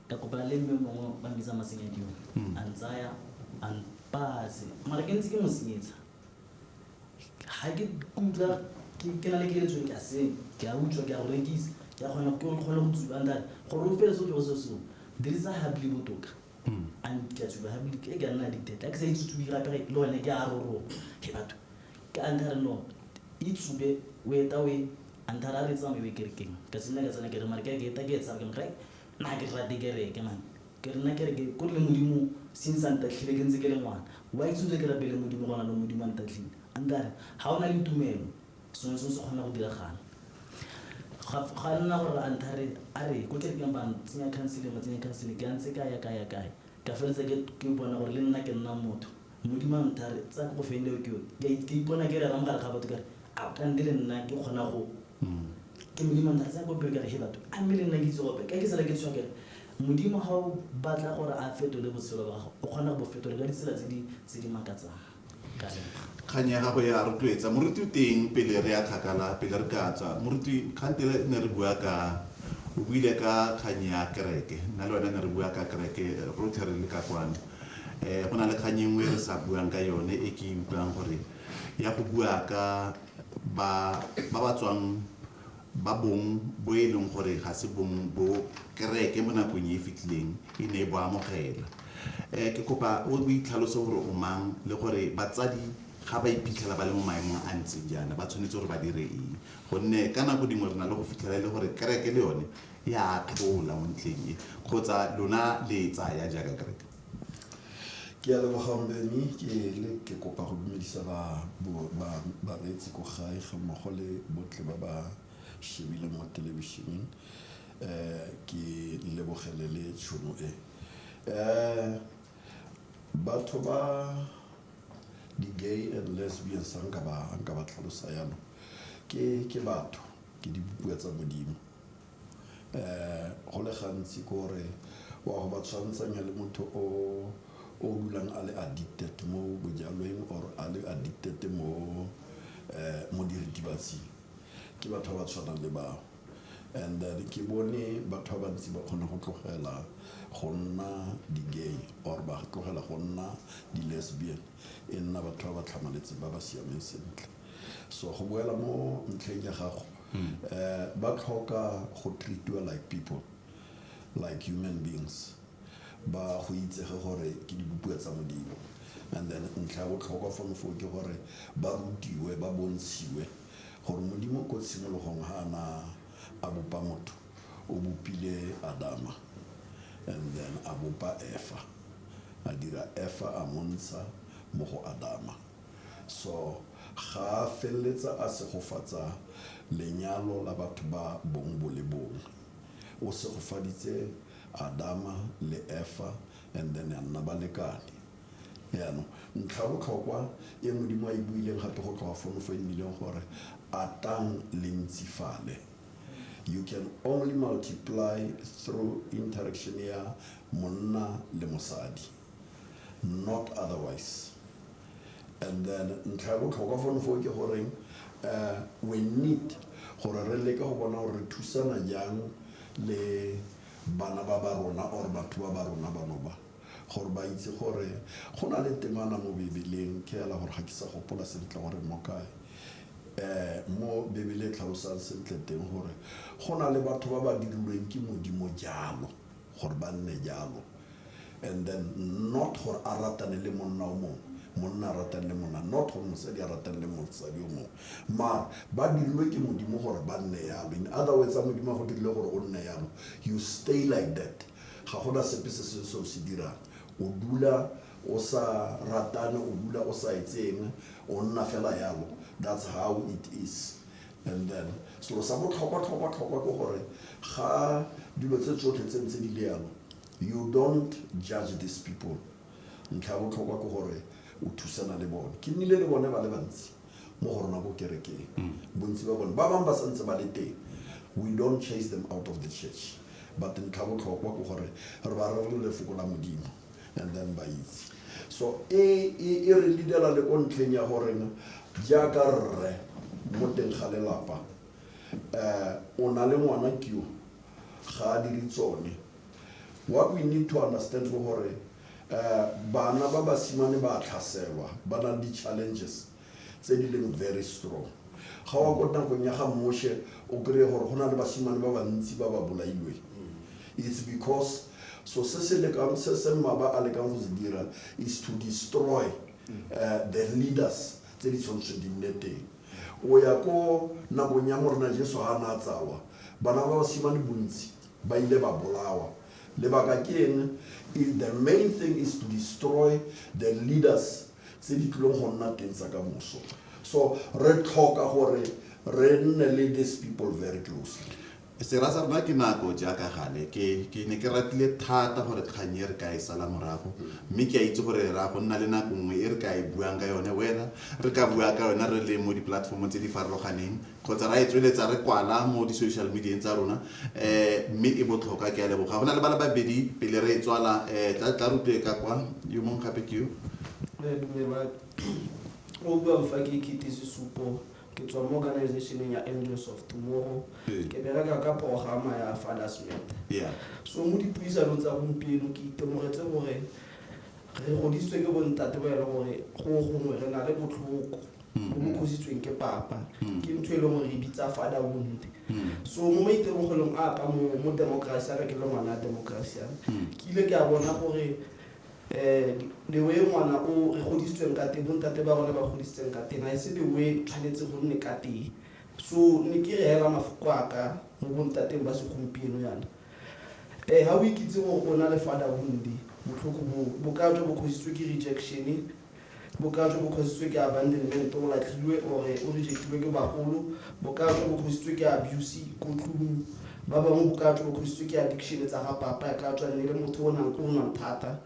ka kopana le mme mongwe ba mbitsa Masenyadiwa. A ntsaya, a mpaya se. Mara ke ntse ke mo senyetsa. Ga ke kutlwa ke na le keletso e ke a seng, ke a utswa, ke a go rekisa, ke a kgona ke kgone go tsuba. A nthaya gore o feletse o tlogetse selo seo, dirisa habli e botoka. Ke a tsuba habli e ke a nna addicted. Ga ke sa itse go tsuba gape le gone ke a roroga. Hee batho! Ka antare lo e tsube o eta o e antare a re tsamaye o e kerekeng. Ka simolola ka tsena kereke mare ke a ke eta ke e tshaba ke motho nna ke rate kereke man. Ke re nna kereke ko le Modimo since a ntatlhile ke ntse ke le ngwana. Why tswile ke rapele Modimo gona lo Modimo a ntatlhile. A ntare ha o na le tumelo sengwe le sengwe se kgona go diragala. Ga ga nna gore antare a re ko kerekeng ba tsenya counseling ba tsenya counseling ke a ntse ka ya ka ya ka ya ka feleletsa ke ke bona gore le nna ke nna motho. Modimo a nthare, tsa ko go feng leo ke yone. Ke a ke ipona ke rera mo gare ga batho ka re, a ka nde le nna ke kgona go. Ke Modimo a nthare, tsa ko pele ka re, he batho, a mme le nna ke itse go opela. Ka ke sala ke tshoga ke re, Modimo ga o batla gore a fetole botshelo ba gago, o kgona go bo fetola ka ditsela tse di tse di makatsang. Ka leboga. Kgang ya gago e a rotloetsa. Moruti o teng pele re ya kgakala, pele re ka tswa. Moruti, kgante re ne re bua ka, o buile ka kgang ya kereke. Nna le wena ne re bua ka kereke rotlhe re le ka kwano. um go na le kgang engwe re sa buang ka yone e ke utlwang gore ya go bua ka ba ba ba tswang ba bong bo e leng gore ga se bong bo kereke mo nakong e e fetileng e ne e bo amogela um ke kopa o itlhalose gore o mang le gore batsadi ga ba iphitlhela ba le mo maemong a ntseng jaana ba tshwanetse gore ba dire eng gonne ka nako dingwe re na le go fitlhela e le gore kereke le yone e a thola mo ntleng e kgotsa lona le e tsaya jaaka kereke ke a leboga mme mme ke le ke kopa go dumedisa ba bo- ba- bareetsi ko gae ga mmogo le botlhe ba ba shebile mo thelebišeneng um ke lebogele le tšhono e um batho ba di-gay and lesbians a nka ba a nka ba tlhalosa yalo ke ke batho ke dibopiwa tsa modimo um go le gantsi ke gore wa go ba tshwantsanya le motho o o dulang a le addicted mo bojalweng or a le addicted mo um mo diritibatsing ke batho ba ba tshwanang le bao and then ke bone batho ba bantsi ba kgone go tlogela go nna di-gay or ba tlogela go nna di-lesbian e nna batho ba ba tlhamaletseng ba ba siameng sentle so go boela mo ntlheng ya gago hmm. eh, ba tlhoka go treatiwa like people like human beings ba go itsege gore ke dibopuwa tsa modimo and then ntlha ya botlhokwa fano foo ke gore ba rutiwe ba bontshiwe gore modimo ko tshimologong ga ana a bopa motho o bopile adama and then a bopa efa a dira efa a montsha mo go adama So, ga a feleletsa a segofatsa lenyalo la batho ba bong bo le bongwe. O segofaditse Adama le Efa and then a nna balekane. Jaanong, ntlha ya botlhokwa e Modimo a e buileng gape go tloga fono fo e nnileng gore, Atang le ntsifale. You can only multiply through interaction ya monna le mosadi. not otherwise and then ntlha ya botlhokwa fone foo ke goreng um we need gore re leke go bona gore re thusana jang le bana ba ba rona or batho ba ba rona bano ba gore ba itse gore go na le temana mo bebeleng ke ela gore ga ke sa gopola sentle gore mo kae um mo bebele e tlhalosang sentle teng gore go na le batho ba ba dirilweng ke modimo jalo Gore ba nne jalo. And then not gore a ratane le monna o mongwe, monna a ratane le monna, not gore mosadi a ratane le mosadi o mongwe. Mara ba dirilwe ke Modimo gore ba nne yalo. In other words, a Modimo a go dirile gore o nne yalo, you stay like that. Ga go na sepe se sengwe se o se dirang. O dula o sa ratane, o dula o sa etse eng, o nna fela yalo. That's how it is. And then, selo sa botlhokwa tlhokwa tlhokwa ke gore ga dilo tse tsotlhe tse ntse di le yalo, you don't judge these people. Ntlha ya botlhokwa ke gore o thusana le bone. Ke nnile le bone ba le bantsi mo go rona ko kerekeng, bontsi ba bone. Ba bangwe ba santse ba le teng, we don't chase them out of the church, but ntlha ya botlhokwa ke gore re ba rerele lefoko la Modimo. and then ba itse so e, e, e re leadela le ko ntlheng ya gorena jaaka rre mo teng ga lelapa um o na le ngwana kio ga a dire tsone what we need to understand go gore um bana ba basimane ba tlhaselwa ba na le di-challenges tse di leng very strong ga wa ko nakong ya ga moshe o kry-e gore go na le basimane ba bantsi ba ba bolailweng it's because so se se lekang se se mmaba a lekang go se dira is to destroy uh, the leaders tse di tshwanetse di nne teng o ya ko nakong ya morena jesu ga a na a tsawa bana ba basimane bontsi ba ile ba bolawa lebaka ke eng the main thing is to destroy the leaders tse di tlileng go nna teng tsa ka moso so re tlhoka gore re nne le these people very closely sera sa rona ke nako jaaka gale ke ke ne ke ratile thata gore kgang e re ka e sala morago mme ke a itse gore ra go nna le nako nngwe e re ka e buang ka yone wena re ka bua ka yone re le mo di-platformong tse di farologaneng kgotsa ra e tsweletsa re kwala mo di-social medieng tsa rona um mme e botlhokwa ke a leboga go na le ba le babedi pele re e tswala um tla tla rutwe ka kwa yo mongwe gape ke yo o buang fa ke kete sesupo ke tswa mo organizationeng ya angels of tomorrow Ee. ke bereka ka programa ya fathers matter yeah so mo dipuisanong tsa gompieno ke itemogetse gore re godisitswe ke bontate ba e le gore go gongwe re na le botlhoko mm. o mo kgositsweng ke papa mm. ke ntho e leng gore e bitsa father wound mm. so mo maitemogelong a ka mo mo democracy a ka ke le ngwana a democracy a ke ile ke a bona gore um the way ngwana o re godisitsweng ka teng bontate ba rone ba godisitseng ka teng a e se the way tshwanetse go nne ka teng so ne ke re hela mafoko a ka mo bontateng ba segompieno yana um ga o ikitse gore o na le father wound botlhoko bo bo ka tswa bo kgositswe ke rejection Bokaa jo bo kgositswe ke abandonment, o latlhilwe or o rejectilwe ke bagolo. Bokaa jo bo kgositswe ke abuse ko tlung. Ba bangwe bokaa jo bo kgositswe ke addiction tsa ga papa ya ka tswa nne le motho o nang ko o nwang thata.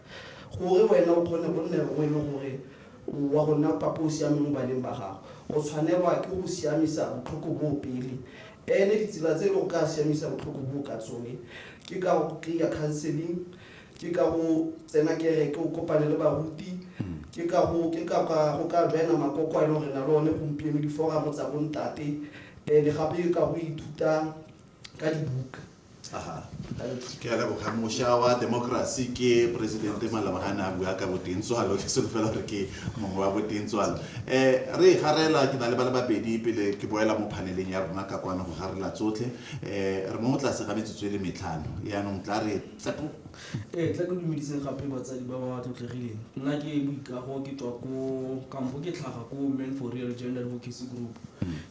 Gore wena o kgone go nne rongwe e le gore o wa go nna papa o o siameng mo baneng ba gago, o tshwanelwa ke go siamisa botlhoko boo pele. Ene ditsela tse e le go ka siamisa botlhoko boo ka tsone ke ka go kry-a counseling ke ka go tsena kereke o kopane le baruti ke ka go ke ka ka go ka joina makoko a e leng gore na le one gompieno diforamo tsa bontate eh, le gape ke ka go ithuta ka dibuka Aha. ke a leboga moša wa democracy ke presidente malabagane a bua ka boteng tswalo ke solofela gore ke mongwe wa boteng tswalo um re e garela ke na le ba le babedi pele ke boela mo phaneleng ya rona ka kwano go garela tsotlhe um re mo tlase ga metsotso e le metlhano yaanong tla re Tlapo. Ee, tla ke dumediseng gape batsadi ba ba tlotlegileng. Nna ke Boikago, ke tswa ko kampo ke tlhaga ko Men for Real Gender Advocacy Group.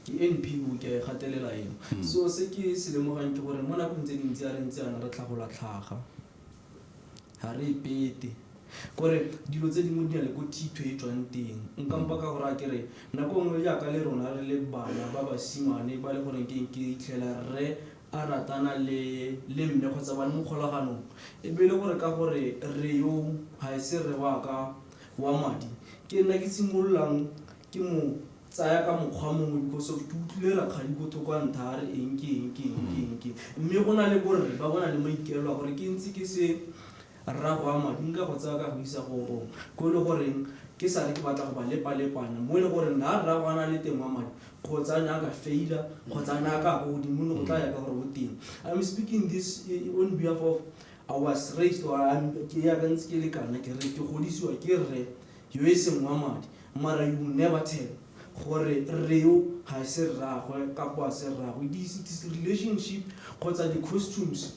Ke NPO, ke a e gatelela eno. So se ke se lemogang ke gore mo nakong tse dintsi a re ntse yana re tlhagola tlhaga, ga re ipete kore dilo tse dingwe di na le ko thitho e tswang teng. Nkampa ka go raya ke re nako nngwe jaaka le rona re le bana ba basimane ba le goreng ke ke itlhela rre a ratana le mme kgotsa ba le mo kgolaganong, e be e le gore ka gore rre yo ga e se rre wa ka wa madi, ke nna ke simololang ke mo tsaya ka mokgwa mongwe because of ke utlwile rakgadi ko thoko a ntha a re eng ke eng ke eng ke eng ke eng. Mme go na le borre ba bo na le maikaelelo a gore ke ntse ke se Rra go ama di nka go tsaya ka go isa go go ko e le goreng ke sale ke batla go ba lepalepana mo e le goreng na rra go ana le teng wa madi kgotsa ne a ka faila kgotsa ne a ka go godimo le go tla ya ka gore o teng i'm speaking this on behalf of i was raised or ke ya ka ntse ke le kana ke re ke godisiwa ke rre yo e seng wa madi mara you never tell gore reo ga e se rragwe kapo a se rragwe it is relationship kgotsa di-costumes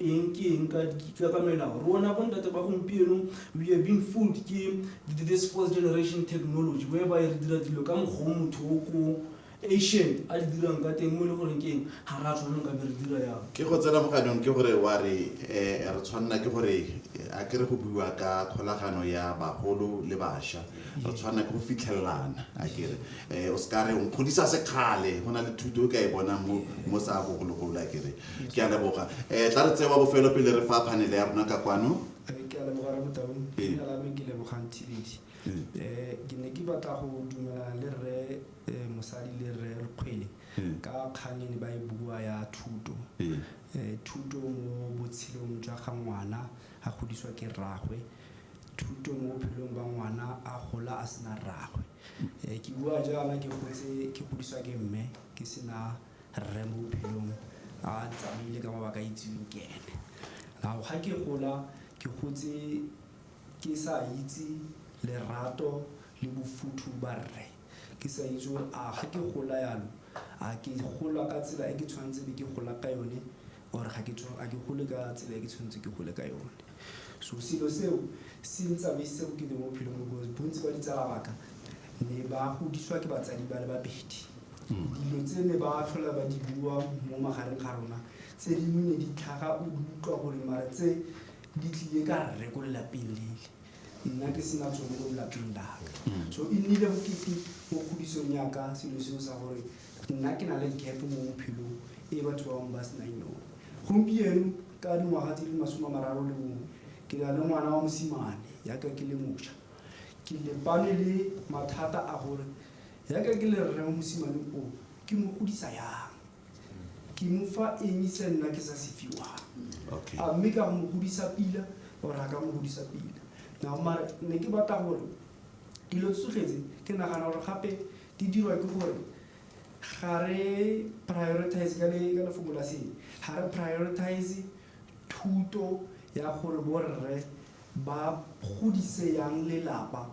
Eng ke eng ka dikitla ka melao? Rona bontate ba gompieno we are being fooled ke this fourth generation technology whereby re dira dilo ka mokgwa o motho o ko Asian a di dirang ka teng mo e le goreng ke eng ga ra tshwanelo ka be re dira yalo. Ke go tsena mo ganong ke gore wa re eh, re tshwanela ke gore eh, a ke re go buiwa ka kgolagano ya bagolo le basha re tshwanela ke go fitlhelelana a kere eh, o se ka re o nkgodisa sekgale go na le thuto o ka e bonang mo mo sa bogologolo a kere Ke a leboga. Eh, tla re tseye wa bofelo pele re fa phanele ya rona ka kwano. Eh, ke a leboga re motaung Ee. leina la me ke lebogang thibedi um ke ne ke batla go dumelana le rre um mosadi le rre lekgwele Ee. ka kgang e ne ba e bua ya thuto Ee. um thuto mo botshelong jwa ga ngwana a godiswa ke rraagwe thuto mo bophelong ba ngwana a gola a sena rraagwe um ke bua jaana ke gotse ke godiswa ke mme ke sena Rre mo bophelong a ntsamaile ka mabaka a itseweng ke ene. Now ga ke gola ke gotse ke sa itse lerato le bofuthu ba rre. Ke sa itse gore a ga ke gola yalo a ke gola ka tsela e ke tshwanetse be ke gola ka yone Or ga ke tswa, ga ke gole ka tsela e ke tshwanetse ke gole ka yone. So selo seo se ntsamaisitse go kete mo bophelong because bontsi ba ditsala baka ne ba godiswa ke batsadi ba le babedi. Dilo tse ne ba tlhola ba di bua mo magareng ga rona tse dingwe ne di tlhaga o di utlwa gore mara tse di tlile ka rre ko lelapeng lele nna ke sena tsone mo lelapeng laka. So e nnile go kete mo kgodisong yaka selo seo sa gore Nna ke na le gap mo bophelong e batho ba bangwe ba se nang yone. Gompieno ka dingwaga tse di le masome a mararo le bongwe, ke na le ngwana wa mosimane yaka ke le mošwa. Ke lebane le mathata a gore yaka ke le rre wa mosimane o, ke mo godisa yang? Ke mo fa eng se nna ke sa se fiwang? A mme ka go mo godisa pila or a ka mo godisa pila? Now mare ne ke batla gore dilo tsotlhe tse ke nagana gore gape Di dirwa ke gore ga re prioritize ka le ka lefoko la se ga re prioritize thuto ya gore borre ba godise yang lelapa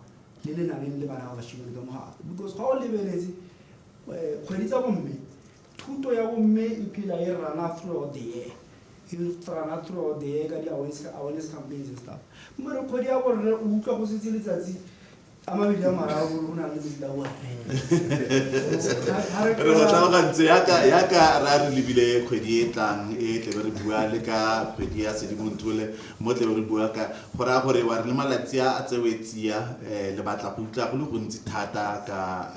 le le nang le bana ba bashimane ka mogala because ga o lebeletse eh, kgwedi tsa bomme thuto ya bomme e phela e rana throughout the year e rana throughout the year ka di-awareness awareness campaigns and stuff mmere kgwedi ya borre o utlwa go setse letsatsi a mabedi a mararo o na le lebila o re go tlhalogantse yaka re a re lebile kgwedi e tlang e tlebe re bua le ka kgwedi ya sedimontole mo tlebe re bua ka go raya gore wa re le malatsi a tsewe tsia um le batla go utlwa go le gontsi thata ka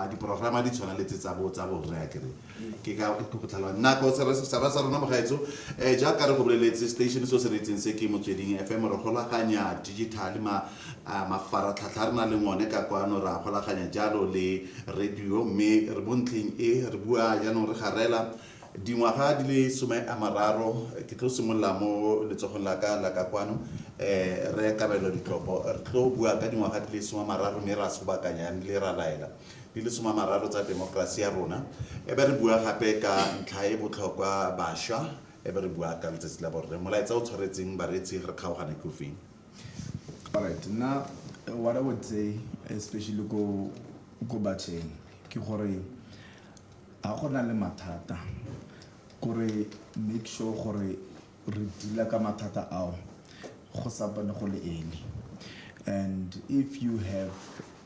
diporograma di tshwana le tse tsa borre a kere ke ka go tlhalwa nako sera sa rona mogaetso um eh, jaaka re go boleletse station se o se reetseng se ke motsweding fm re golaganya digital mafaratlhatlha re na le ngone ka kwano ra golaganya jalo le radio mme re mo ntlheng e re bua jaanong re garela dingwaga di le some a mararo ke tlo simolola mo letsogong la ka la ka kwano um re kabelo ditlopo re tlo bua ka dingwaga di le some a mararo mme ra sobakanya le ra laela di le soma mararo tsa temokerasi ya rona, e be re bua gape ka ntlha e botlhokwa basha, e be re bua ka letsatsi la borre. Molaetsa o tshwaretseng bareetsi re kgaogana ke o feng? Alright, nna what I would say especially ko ko batsheng ke gore ga go na le mathata kore make sure gore re dealer ka mathata ao go sa bone go le early and if you have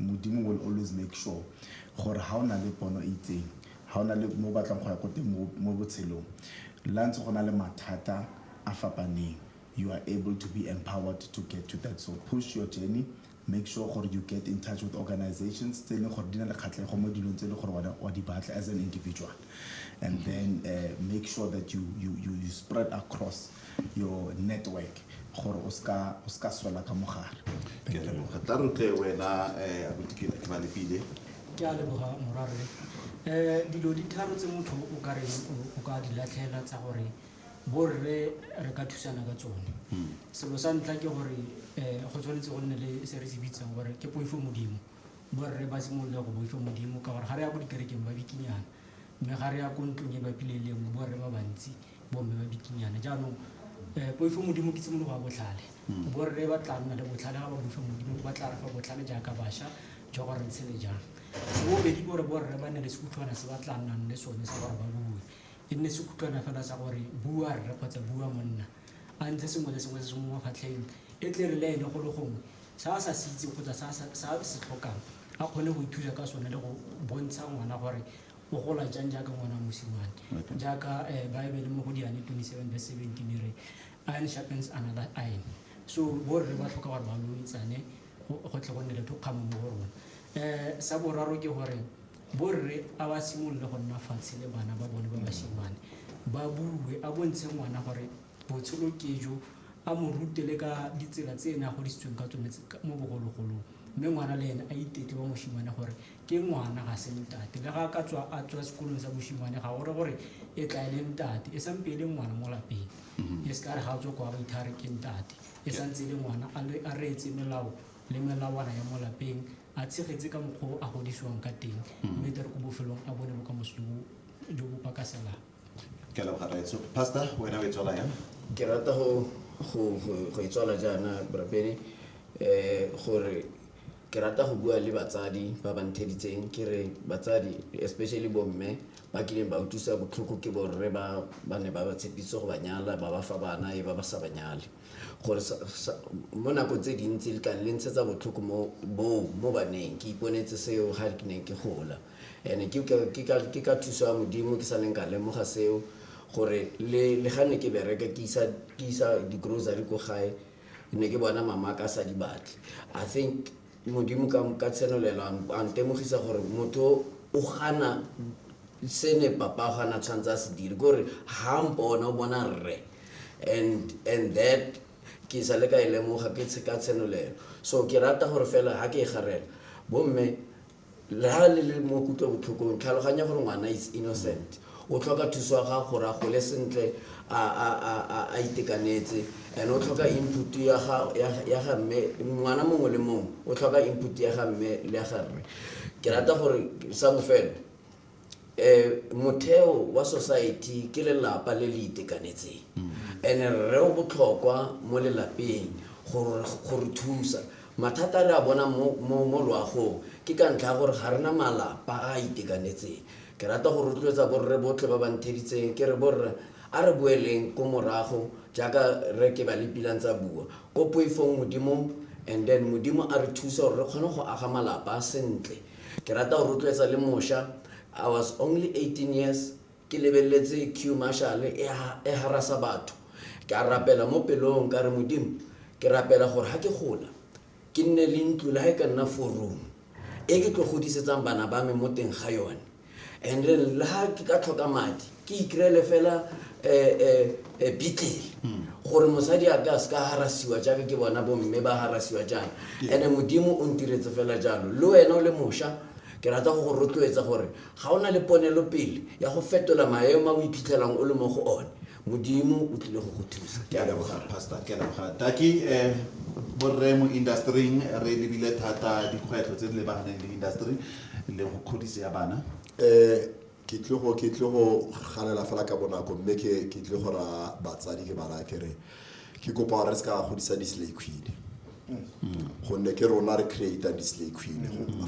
Modimo will always make sure gore ha o na le pono e itseng, ha o na le mo o batlang go ya ko teng mo botshelong, le ha ntse go na le mathata a fapaneng, you are able to be empowered to get to that. So push your journey, make sure gore you get in touch with organisations tse e leng gore di na le kgatlhego mo dilong tse e leng gore wena o a di batla as an individual and then make sure that you spread across. your network gore o ska o ska swela ka mogare ke a leboga tla re tle wena eh abuti ke ke ba lepile ke a leboga morwarre um dilo di tharo tse motho o ka reng o- o ka di latlhela tsa gore borre re ka thusana ka tsone selo sa ntlha ke gore um go tshwanetse go nne le se re se bitsang gore ke poifo modimo borre ba simolole go boifo modimo ka gore ga re ya ko dikerekeng ba bikinyana mme ga re ya ko ntlong e bapileng le nngwe borre ba bantsi bomme ba bikinyana jaanong um poifo modimo ke tshimologo ya botlhale hmm. borre ba tla nna le botlhale ga ba boifa modimo ba tla re fa botlhale jaaka bašwa jwa gore ntshe le jang sebobedi gore borre ba ne le sekutlhwana se ba tla nnang le sone sa gore ba bue e nne sekutlhwana fela sa gore bua rre kgotsa bua monna a ntse sengwe le sengwe se se mo mafatlheng e tle re le ene go le gongwe sa a sa se itse kgotsa sa se tlhokang a kgone go ithusa ka sone le go bontsha ngwana gore O gola jang jaaka ngwana wa mosimane? Jaaka Baebele mo go Diane 27 verse 17 e re, Iron sharpens another iron. So borre ba tlhoka gore ba loletsane go tle go nne le thokgamo mo go rona. Um sa boraro ke gore borre a ba simolole go nna fatshe le bana ba bone ba basimane, ba bue, a bontshe ngwana gore botshelo ke jo, a mo rute le ka ditsela tse ene a godisitsweng ka tsone mo bogologolong. Mme ngwana le ene a itetle wa mosimane gore Ke ngwana, ga se ntate. Le ga a ka tswa a tswa sekolong sa boshimane, ga gore gore e tla e le ntate. E sampe e le ngwana mo lapeng. Mm-hmm. E se ka re ga a tswa kwa ba itha re ke ntate. E santse e le ngwana, a reetse melao le melawana ya mo lapeng, a tshegetse ka mokgwa o a godisiwang ka teng, mm-hmm. mme tle re ko bofelong a bone bokamoso jo bo pakaselang. ke leboga raetso pastor wena o e tswala yang ke rata go go go- go e tswala jaana borapedi um gore ke rata go bua le batsadi ba ba ntheditseng ke re batsadi especially bomme ba kileng ba utlwisa botlhoko ke borre ba ba ne ba ba tshepitse go ba nyala ba ba fa bana e ba ba sa ba nyale gore sa- sa- mo nako tse dintsi le ka le ntshetsa botlhoko mo boo mo baneng ke iponetse seo ga ke ne ke gola And-e ke ka, ke ka, ke ka thuso ya Modimo ke sa neng ka lemoga seo, gore le, le ga ne ke bereka ke isa, ke isa di-grocery ko gae, ne ke bona mama a ka sa di batle. I think Modimo ka, ka tshenolelo a n- a ntemogisa gore motho o gana se ne papa a gana tshwanetse a se dire, ke gore ha a mpona o bona rre. And, and that ke sa le ka e lemoga ke tshe- ka tshenolelo. So ke rata gore fela ha ke e garela, bomme la le le mo kutlobotlhokong tlhaloganya gore ngwana is innocent o tlhoka thuso ya gago gore a gole sentle a itekanetse and o tlhoka input ya ga mme ngwana mongwe le mongwe o tlhoka input ya ga mme le ya ga rre ke rata gore sa bofelo um motheo wa society ke lelapa le le itekanetseng and rre o botlhokwa mo lelapeng go re thusa mathata a re a bona mo loagong ke ka ntlha ya gore ga rena malapa a a itekanetseng ke rata go rotloetsa borre botlhe ba ba ntheditseng ke re borre a re boeleng ko morago jaaka re ke ba lepilang tsa bua ko poifong modimong and then modimo a re thusa gore re kgone go aga malapa sentle Ke rata go rotloetsa le mosha. I was only 18 years ke lebeletse Queue Marshal e e harasa batho. Ke a rapela mo pelong ka re Modimo ke rapela gore ha ke gola ke nne le ntlo le ha e ka nna four room e ke tlo godisetsang bana ba me mo teng ga yone. and then le ga ke ka tlhoka madi ke ikry-ele fela um beatle gore mosadi a ka se ka harasiwa jaaka ke bona bomme ba harasiwa jaana and-e modimo o ntiretse fela jalo le wena o le mošwa ke rata go go rotloetsa gore ga o na le ponelo pele ya go fetola maemo a o iphitlhelang o le mo go one modimo o tlile go go thusa ke a leboga pastor ke a leboga taki um borre mo industryng re lebile thata dikgwetlho tse di lebaganeng le industry le go kgodisi ya bana um ke tle go ke tle go galela fela ka bonako mme ke ke tle go ra batsadi ke bara ke re ke kopa gore re se ka godisa di-slay queen gonne ke rona re creata di-slay queen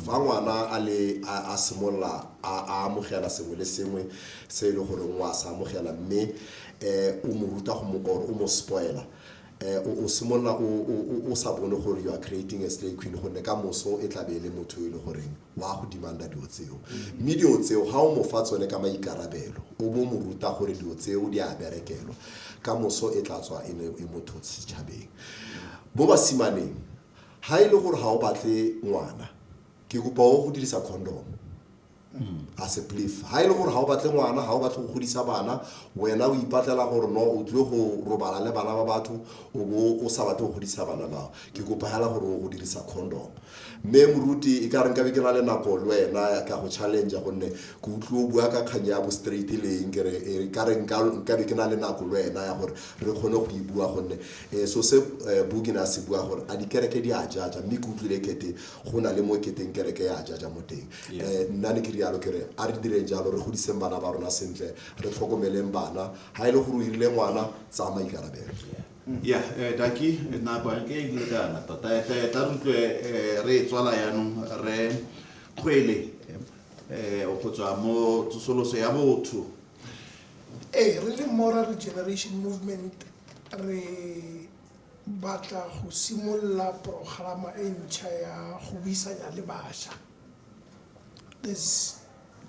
fa ngwana a le a a simolola a a amogela sengwe le sengwe se e le gore ngwa se amogela mme um o mo ruta go mo or o mo spoila um o o simolola o- o o- o sa bone gore you are creating a slay queen gonne ka moso e tlabe e le motho e le goreng wa go dimanda dilo tseo mme dilo tseo ga o mo fa tsone ka maikarabelo o bo mo ruta gore dilo tseo di a berekelwa ka moso e tla tswa e ne e motho setšhabeng mo basimaneng ga e le gore ga o batle ngwana ke kopa o go dirisa condom as a belief ga e le gore ga o batle ngwana ga o batle go godisa bana wena o ipatlela gore no o tlile go robala le bana ba batho o bo o sa batle go godisa bana bao ke kopa hela gore o go dirisa condom mme moruti e ka re nkabe ke na le nako le wena ka go challenge gonne ke utlwe o bua ka kgang ya bo straight le eng kere e ka re nkabe ke na le nako le wena ya gore re kgone go e bua gonne um so se eh, bukina se bua gore a dikereke di a jaja mme ke utlwile kete go na le mo keteng kereke ya jaja mo teng um nna ne ke rialo kere a re direng jalo re godiseng bana ba rona sentle re tlhokomeleng bana ga e le gore o irile ngwana tsamaikarabelo ya eh, daki eh, nako yanke e dile ka na tota eh, eh, tla re utlwe eh, re e tswala yaanong re kgwele eh, go tswa mo tsosoloso ya botho ee re le mora regeneration movement re batla go simolola programa e ntšha ya go buisanya le bašwa this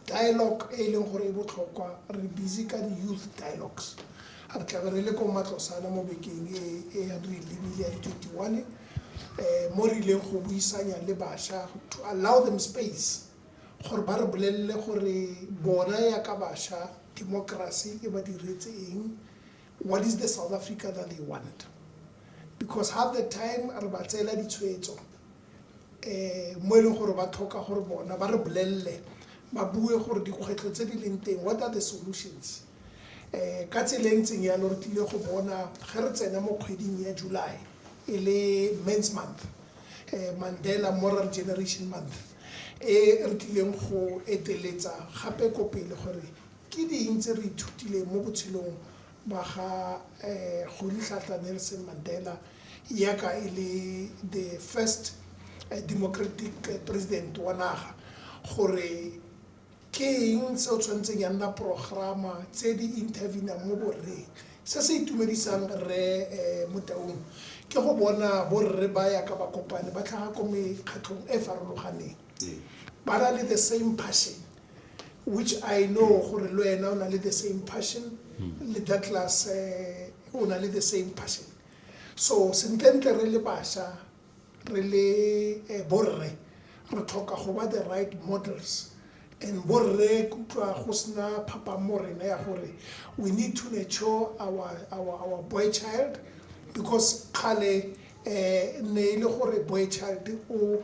dialogue e e leng gore e botlhokwa re busy ka di-youth dialogues re tlabe re le ko matlosana mo bekeng e e yang re e lebile ya di-twenty one um mo re ileng go buisanya le bašwa to allow them space gore ba re bolelele gore bona yaka bašwa democracy e ba diretse eng What is the South Africa that they want? Because half the time re ba tseela ditshwetso um mo e leng gore ba tlhoka gore bona ba re bolelele ba bue gore dikgwetlho tse di leng teng what are the solutions um ka tsela e ntseng yalo re tlile go bona ge re tsena mo kgweding ya july e le mans month um mandela moral generation month e re tlileng go eteletsa gape ko pele gore Ke ding tse re ithutileng mo botshelong ba ga Rolihlahla Nelson Mandela yaka e le the first democratic president wa naga gore ke eng se o tshwanetseng ya nna programa tse di intervene-ang mo borreng. Se se itumedisang Rre Motaung ke go bona borre ba yaka ba kopane ba tlhaga ko mekgatlhong e farologaneng ba na le the same passion which i know gore le wena o na le the same passion le douglas um o na le the same passion so sentlentle re le basha re le eh, borre re tlhoka go ba the right models and borre kutlwa go sena phapang mo rena ya gore we need to nurture our, our, our boy child because kgale um ne e le gore boy child o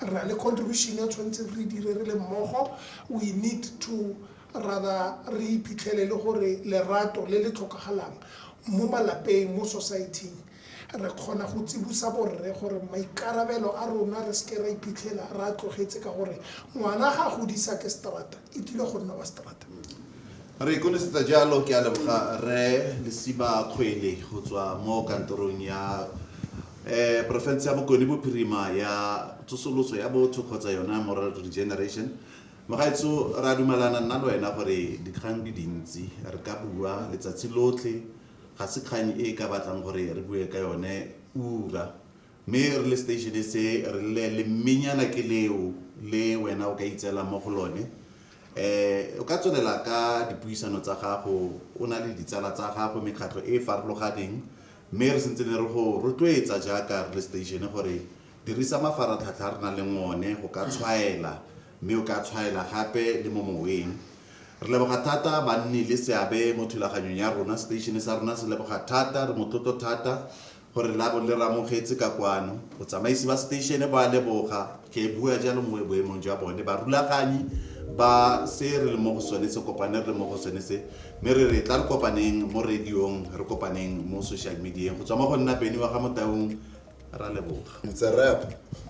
re na le contribution ya tshwanetseng re dire re le mmogo we need to rather re iphitlhele le gore lerato le le tlhokagalang mo malapeng mo society re kgona go tsibusa borre gore maikarabelo a rona re seke ra iphitlhela re a tlogetse ka gore ngwana ga a godisa ke strata e tlile go nna wa strata re ikonesetsa jalo ke a leboga re lesiba kgwele go tswa mo kantorong ya eh porofense ya bokone bophirima ya tsosoloso ya botho kgotsa yona moral regeneration mogaetso ra dumalana nna le wena gore dikgang di dintsi re ka bua letsatsi lotlhe ga se kgang e ka batlang gore re bue ka yone ura Mme re le seteišene se, re rile lemmenyana ke leo le wena o ka itseelang mo go lone. Um o ka tswelela ka dipuisano tsa gago o na le ditsala tsa gago, mekgatlho e e farologaneng, mme re sentse ne re go rotloetsa jaaka re le seteišene gore dirisa mafaratlhatlha a re nang le one go ka tshwaela, mme o ka tshwaela gape le mo moweng. Re leboga thata ba nni le seabe mo thulaganyong ya rona. Seteišene sa rona se leboga thata, re motlotlo thata gore la bo le ramogetse ka kwano. Botsamaisi ba seteišene bo a leboga ge bua jalo mo boemong jwa bone barulaganyi ba se re le mo go sone se kopane re le mo go sone se mme re re tla re kopaneng mo radiong re kopaneng mo social medieng go tswa mo go nna beny wa ga motaung ra leboga It's a wrap.